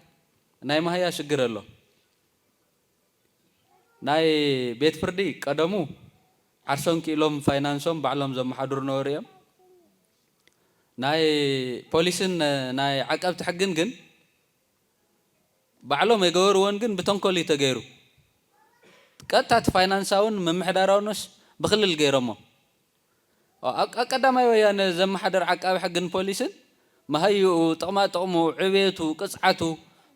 ናይ ማህያ ሽግር ኣሎ። ናይ ቤት ፍርዲ ቀደሙ ዓርሶም ኪኢሎም ፋይናንሶም ባዕሎም ዘመሓድሩ ነበሩ እዮም። ናይ ፖሊስን ናይ ዓቀብቲ ሕግን ግን ባዕሎም ኣይገበርዎን ግን ብተንኮል እዩ ተገይሩ። ቀጥታ እቲ ፋይናንሳውን ምምሕዳራውንስ ብክልል ገይሮሞ። ኣብ ቀዳማይ ወያነ ዘመሓደር ዓቃቢ ሕግን ፖሊስን መሃይኡ፣ ጥቕማጥቕሙ፣ ዕብየቱ፣ ቅፅዓቱ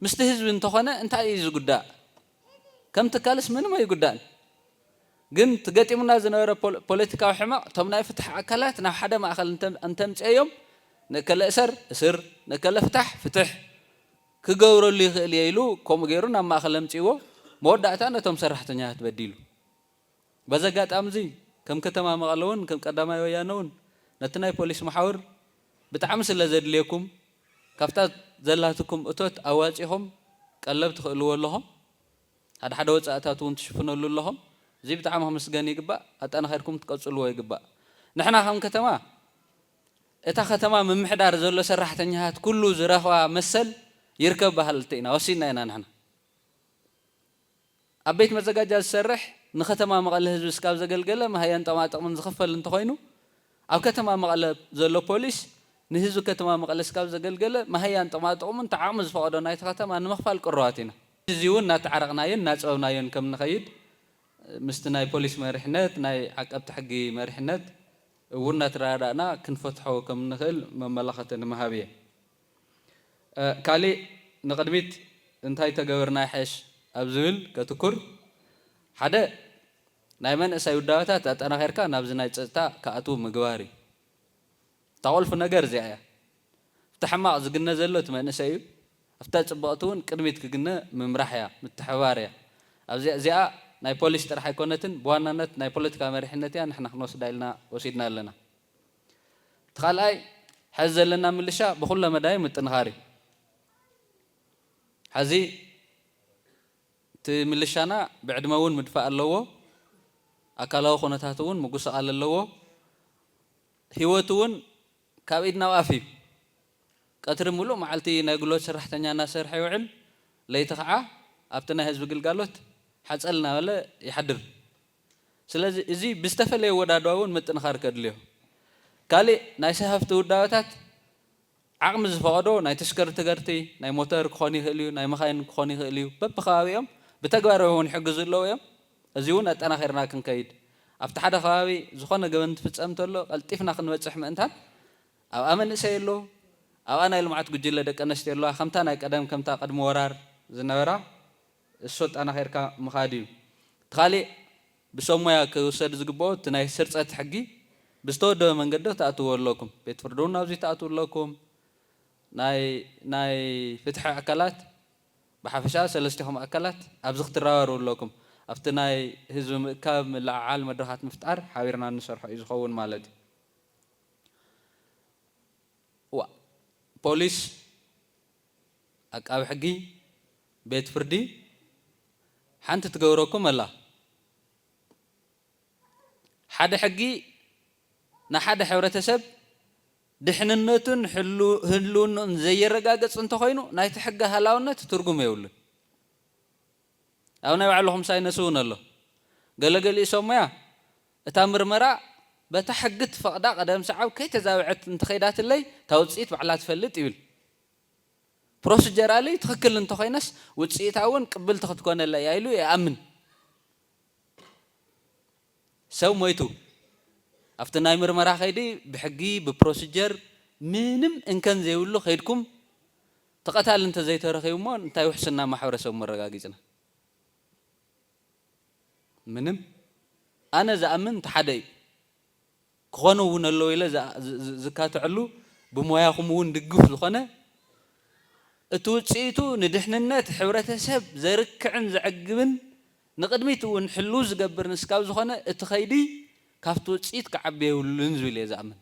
ምስቲ ህዝቢ እንተኾነ እንታይ እዩ ዝጉዳእ? ከም ትካልስ ምንም ኣይጉዳእን። ግን እቲ ገጢሙና ዝነበረ ፖለቲካዊ ሕመቕ እቶም ናይ ፍትሒ ኣካላት ናብ ሓደ ማእኸል እንተምፂኤዮም ንእከለ እሰር፣ እስር፣ ንእከለ ፍታሕ፣ ፍትሕ ክገብረሉ ይኽእል እየ ኢሉ ከምኡ ገይሩ ናብ ማእኸል ኣምፂእዎ መወዳእታ ነቶም ሰራሕተኛታት በዲሉ። በዚ ኣጋጣሚ'ዚ ከም ከተማ መቐለ'ውን ከም ቀዳማይ ወያነ'ውን ነቲ ናይ ፖሊስ መሓውር ብጣዕሚ ስለዘድልየኩም ካብታ ዘላትኩም እቶት ኣዋጺኹም ቀለብ ትኽእልዎ ኣለኹም ሓደ ሓደ ወጻእታት'ውን ትሽፍነሉ ኣለኹም እዚ ብጣዕሚ ክምስገን ይግባእ ኣጠናኺርኩም ክትቀጽልዎ ይግባእ ንሕና ከም ከተማ እታ ከተማ ምምሕዳር ዘሎ ሰራሕተኛታት ኩሉ ዝረኽባ መሰል ይርከብ በሃልቲ ኢና ወሲንና ኢና ንሕና። ኣብ ቤት መዘጋጃ ዝሰርሕ ንከተማ መቐለ ህዝቢ ስካብ ዘገልገለ መሃያን ጠማጥቕምን ዝኽፈል እንተኾይኑ ኣብ ከተማ መቐለ ዘሎ ፖሊስ ንህዝቢ ከተማ መቐለ ስካብ ዘገልገለ መሃያን ጥቕማጥቕሙ እንተ ዓቕሚ ዝፈቐዶ ናይቲ ከተማ ንምኽፋል ቅሩባት ኢና። እዚ እውን እናተዓረቕናዮን እናፀበብናዮን ከም ንኸይድ ምስቲ ናይ ፖሊስ መሪሕነት ናይ ዓቀብቲ ሕጊ መሪሕነት እውን እናተረዳዳእና ክንፈትሖ ከም እንኽእል መመላኸቲ ንምሃብ እየ። ካሊእ ንቕድሚት እንታይ ተገበርና ይሐሽ ኣብ ዝብል ከትኩር ሐደ ናይ መንእሰይ ውዳበታት ኣጠናኺርካ ናብዚ ናይ ፀፅታ ክኣትው ምግባር እዩ እታ ቁልፊ ነገር እዚኣ እያ ኣብቲ ሕማቕ ዝግነ ዘሎ እቲ መንእሰይ እዩ ኣብታ ፅብቕቲ እውን ቅድሚት ክግነ ምምራሕ እያ ምትሕብባር እያ ኣብዚኣ እዚኣ ናይ ፖሊስ ጥራሕ ኣይኮነትን ብዋናነት ናይ ፖለቲካ መሪሕነት እያ ንሕና ክንወስዳ ኢልና ወሲድና ኣለና። እቲ ካልኣይ ሐዚ ዘለና ምልሻ ብኹለ መዳዩ ምጥንኻር እዩ። ሐዚ እቲ ምልሻና ብዕድመ እውን ምድፋእ ኣለዎ፣ ኣካላዊ ኩነታቱ እውን ምጉስቓል ኣለዎ፣ ህይወቱ እውን ካብ ኢድ ናብ ኣፍ እዩ። ቀትሪ ሙሉእ መዓልቲ ናይ ጉልበት ሰራሕተኛ እናሰርሐ ይውዕል፣ ለይቲ ከዓ ኣብቲ ናይ ህዝቢ ግልጋሎት ሓፀል እናበለ ይሓድር። ስለዚ እዚ ብዝተፈለየ ወዳድባ እውን ምጥንኻር ከድልዮ። ካሊእ ናይ ሰሃፍቲ ውዳበታት ዓቕሚ ዝፈቐዶ ናይ ተሽከርትገርቲ፣ ናይ ሞተር ክኾን ይኽእል እዩ፣ ናይ መኻይን ክኾን ይኽእል እዩ፣ በብከባቢኦም ብተግባር እውን ሕጊ ዝእለዉ እዮም። እዚ እውን ኣጠናኺርና ክንከይድ ኣብቲ ሓደ ከባቢ ዝኾነ ገበን እንትፍፀም እንተሎ ቀልጢፍና ክንበፅሕ ምእንታን ኣብኣ መንእሰይ ኣሎ፣ ኣብኣ ናይ ልምዓት ጉጅለ ደቂ ኣነስትዮ ኣለዋ ከምታ ናይ ቀደም ከምታ ቅድሚ ወራር ዝነበራ። እሱ ኣጣናኺርካ ምኻድ እዩ። እቲ ካሊእ ብሰብ ሞያ ክውሰድ ዝግበኦ እቲ ናይ ስርፀት ሕጊ ብዝተወደበ መንገዲ ክትኣትውዎ ኣለኩም። ቤት ፍርዲ እውን ናብዙይ ትኣትው ኣለኩም። ናይ ናይ ፍትሒ ኣካላት ብሓፈሻ ሰለስቲኹም ኣካላት ኣብዚ ክትረባረቡ ኣለኩም። ኣብቲ ናይ ህዝቢ ምእካብ፣ ምልዕዓል፣ መድረኻት ምፍጣር ሓቢርና እንሰርሖ እዩ ዝኸውን ማለት እዩ። ዋእ ፖሊስ! ኣቃቢ ሕጊ ቤት ፍርዲ ሓንቲ ትገብረኩም ኣላ ሓደ ሕጊ ንሓደ ሕብረተሰብ ድሕንነቱን ህልውንኡን ዘየረጋግፅ እንተኾይኑ ናይቲ ሕጊ ሃላውነት ትርጉም የብሉን ኣብ ናይ ባዕልኹም ሳይነስ እውን ኣሎ ገለገሊኡ ሰብሞያ እታ ምርመራ በታ ሕጊ እትፈቕዳ ቀደም ሰዓብ ከይተዛበዐት እንተኸይዳትለይ እታ ውጽኢት ባዕላ ትፈልጥ ይብል። ፕሮስጀራሊ ትኽክል እንተኾይነስ ውጽኢታ እውን ቅብልቲ ክትኮነለይ እያ ኢሉ ይኣምን። ሰብ ሞይቱ ኣብቲ ናይ ምርመራ ከይዲ ብሕጊ ብፕሮስጀር ምንም እንከን ዘይብሉ ከይድኩም እቲ ቀታሊ እንተዘይተረኺቡ እሞ እንታይ ውሕስና ማሕበረሰቡ መረጋጊጽና? ምንም ኣነ ዝኣምን እቲ ሓደ እዩ ክኾኑ እውን ኣለዉ ኢለ ዝካትዐሉ ብሞያኹም እውን ድግፍ ዝኾነ እቲ ውፅኢቱ ንድሕንነት ሕብረተሰብ ዘርክዕን ዘዕግብን ንቕድሚት እውን ሕልው ዝገብርን እስካብ ዝኾነ እቲ ከይዲ ካብቲ ውፅኢት ክዓቢ የብሉን ዝብል እየ ዝኣምን።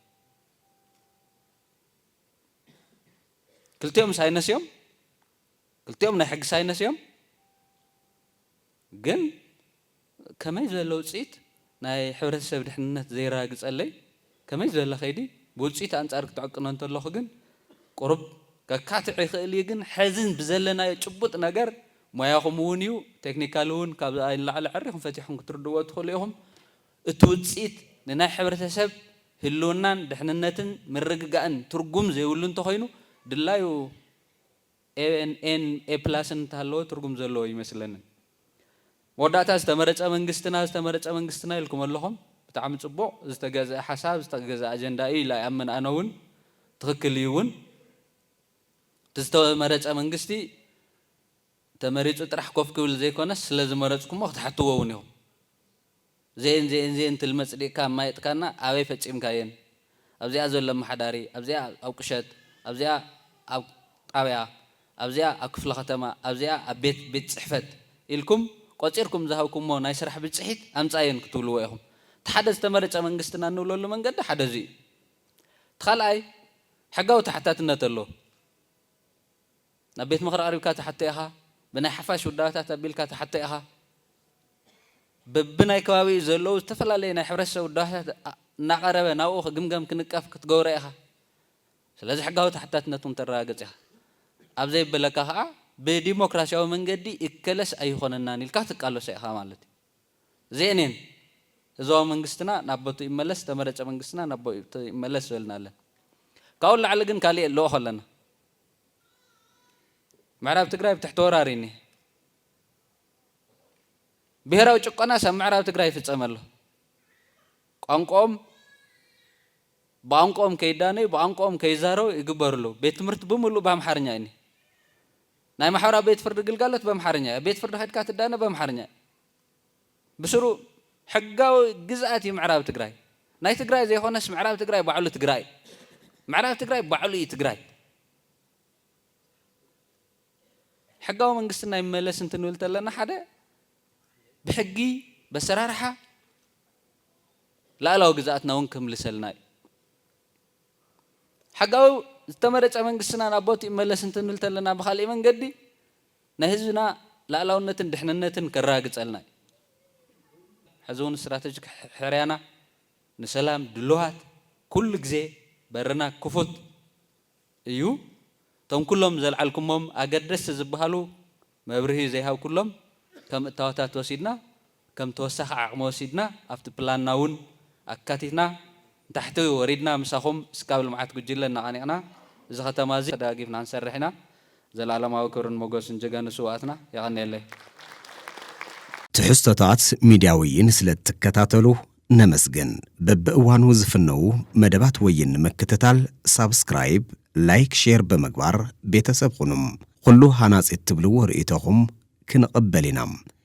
ክልቲኦም ሳይነስ እዮም። ክልቲኦም ናይ ሕጊ ሳይነስ እዮም ግን ከመይ ዝበለ ውፅኢት ናይ ሕብረተሰብ ድሕንነት ዘየረጋግፀለይ ከመይ ዝበለ ከይዲ ብውፅኢት ኣንፃር ክትዕቅኖ እንተለኹ ግን ቁሩብ ከካትዕ ይኽእል እዩ ግን ሐዚ ብዘለናዮ ጭቡጥ ነገር ሞያኹም እውን እዩ ቴክኒካሊ እውን ካብዝኣ ንላዕሊ ዐሪኹም ፈቲሕኹም ክትርድእዎ ትኽእሉ ኢኹም እቲ ውፅኢት ንናይ ሕብረተሰብ ህልውናን ድሕንነትን ምርግጋእን ትርጉም ዘይብሉ እንተኾይኑ ድላዩ ኤን ኤ ፕላስን እንተሃለወ ትርጉም ዘለዎ ኣይመስለንን። መወዳእታ ዝተመረጸ መንግስትና ዝተመረጸ መንግስትና ኢልኩም ኣለኹም። ብጣዕሚ ጽቡቕ ዝተገዝኣ ሓሳብ ዝተገዝኣ ኣጀንዳ እዩ ኢላ ይኣምን ኣነ እውን ትኽክል እዩ እውን እቲ ዝተመረጸ መንግስቲ ተመሪጹ ጥራሕ ኮፍ ክብል ዘይኮነስ ስለዝመረጽኩሞ ክትሓትዎ እውን ኢኹም። ዘየን ዘየን ዘየን ትልሚ ኣጽዲቅካ ኣማይጥካና ኣበይ ፈጺምካየን ኣብዚኣ ዘሎ ኣማሓዳሪ ኣብዚኣ ኣብ ቁሸት ኣብዚኣ ኣብ ጣብያ ኣብዚኣ ኣብ ክፍለ ከተማ ኣብዚኣ ኣብ ቤት ቤት ጽሕፈት ኢልኩም ቆጺርኩም ዝሃብኩሞ ናይ ስራሕ ብጽሒት ኣምጻየን ክትብልዎ ኢኹም እቲ ሓደ ዝተመረጸ መንግስትና እንብለሉ መንገዲ ሓደ እዚ እዩ እቲ ካልኣይ ሕጋዊ ተሓታትነት ኣሎ ናብ ቤት ምኽሪ ቀሪብካ ትሓቶ ኢኻ፣ ብናይ ሓፋሽ ውዳበታት ኣቢልካ ትሓቶ ኢኻ፣ በብናይ ከባቢኡ ዘለዉ ዝተፈላለዩ ናይ ሕብረተሰብ ውዳበታት እናቐረበ ናብኡ ክግምገም ክንቀፍ ክትገብሮ ኢኻ። ስለዚ ሕጋዊ ተሓታትነት እውን ተረጋግፅ ኢኻ። ኣብ ዘይብለካ ከዓ ብዲሞክራሲያዊ መንገዲ ይከለስ ኣይኾነናን ኢልካ ትቃለሶ ኢኻ ማለት እዩ። እዚኤንየን ህዝባዊ መንግስትና ናብ ቦትኡ ይመለስ፣ ዝተመረፀ መንግስትና ናብ ቦትኡ ይመለስ ዝበልና ኣለና። ካብኡ ንላዕሊ ግን ካሊእ የልኦኾ ኣለና። ምዕራብ ትግራይ ብትሕቲ ወራር እዩ እኒሀ። ብሄራዊ ጭቆናስ ኣብ ምዕራብ ትግራይ ይፍፀም ኣሎ። ቋንቋኦም ብቋንቋኦም ከይዳነዩ ብቋንቋኦም ከይዛረቡ ይግበሩ ኣለዉ። ቤት ትምህርቲ ብምሉእ ብኣምሓርኛ እዩ እኒሀ። ናይ ማሕበራዊ ቤት ፍርዲ ግልጋሎት በምሓርኛ እዩ። ኣብ ቤት ፍርዲ ከድካ ትዳነ በምሓርኛ እዩ። ብስሩ ሕጋዊ ግዝኣት እዩ ምዕራብ ትግራይ። ናይ ትግራይ ዘይኾነስ ምዕራብ ትግራይ ባዕሉ ትግራይ እዩ። ምዕራብ ትግራይ ባዕሉ እዩ ትግራይ። ሕጋዊ መንግስትና ይመለስ እንትንብል ተለና ሓደ ብሕጊ በሰራርሓ ላእላዊ ግዝኣትና እውን ከምልሰልና እዩ። ሕጋዊ ዝተመረፀ መንግስትና ናብ ቦት ይመለስ እንትንብል ተለና ብካሊእ መንገዲ ናይ ህዝብና ላእላውነትን ድሕንነትን ከራግጸልና እዩ። ሕዚ ውን ስትራተጂክ ሕርያና ንሰላም ድሉዋት ኩሉ ግዜ በርና ክፉት እዩ። እቶም ኩሎም ዘልዓልኩሞም ኣገደስቲ ዝብሃሉ መብርሂ ዘይሃብኩሎም ከም እታወታት ወሲድና ከም ተወሳኺ ዓቕሚ ወሲድና ኣብቲ ፕላንና እውን ኣካቲትና ንታሕቲ ወሪድና ምሳኹም ስካብ ልምዓት ጉጅለ እናቐኒዕና እዚ ከተማ እዚ ተደጋጊፍና ክንሰርሕ ኢና። ዘልኣለማዊ ክብርን ሞጎስን ጀጋኑ ስውኣትና። የቐንየለይ። ትሕዝቶታት ሚድያ ወይን ስለእትከታተሉ ነመስግን። በብእዋኑ ዝፍነዉ መደባት ወይን ንምክትታል ሳብስክራይብ፣ ላይክ፣ ሼር ብምግባር ቤተሰብ ኹኑ። ኹሉ ሃናፂ እትብልዎ ርእይቶኹም ክንቕበል ኢና።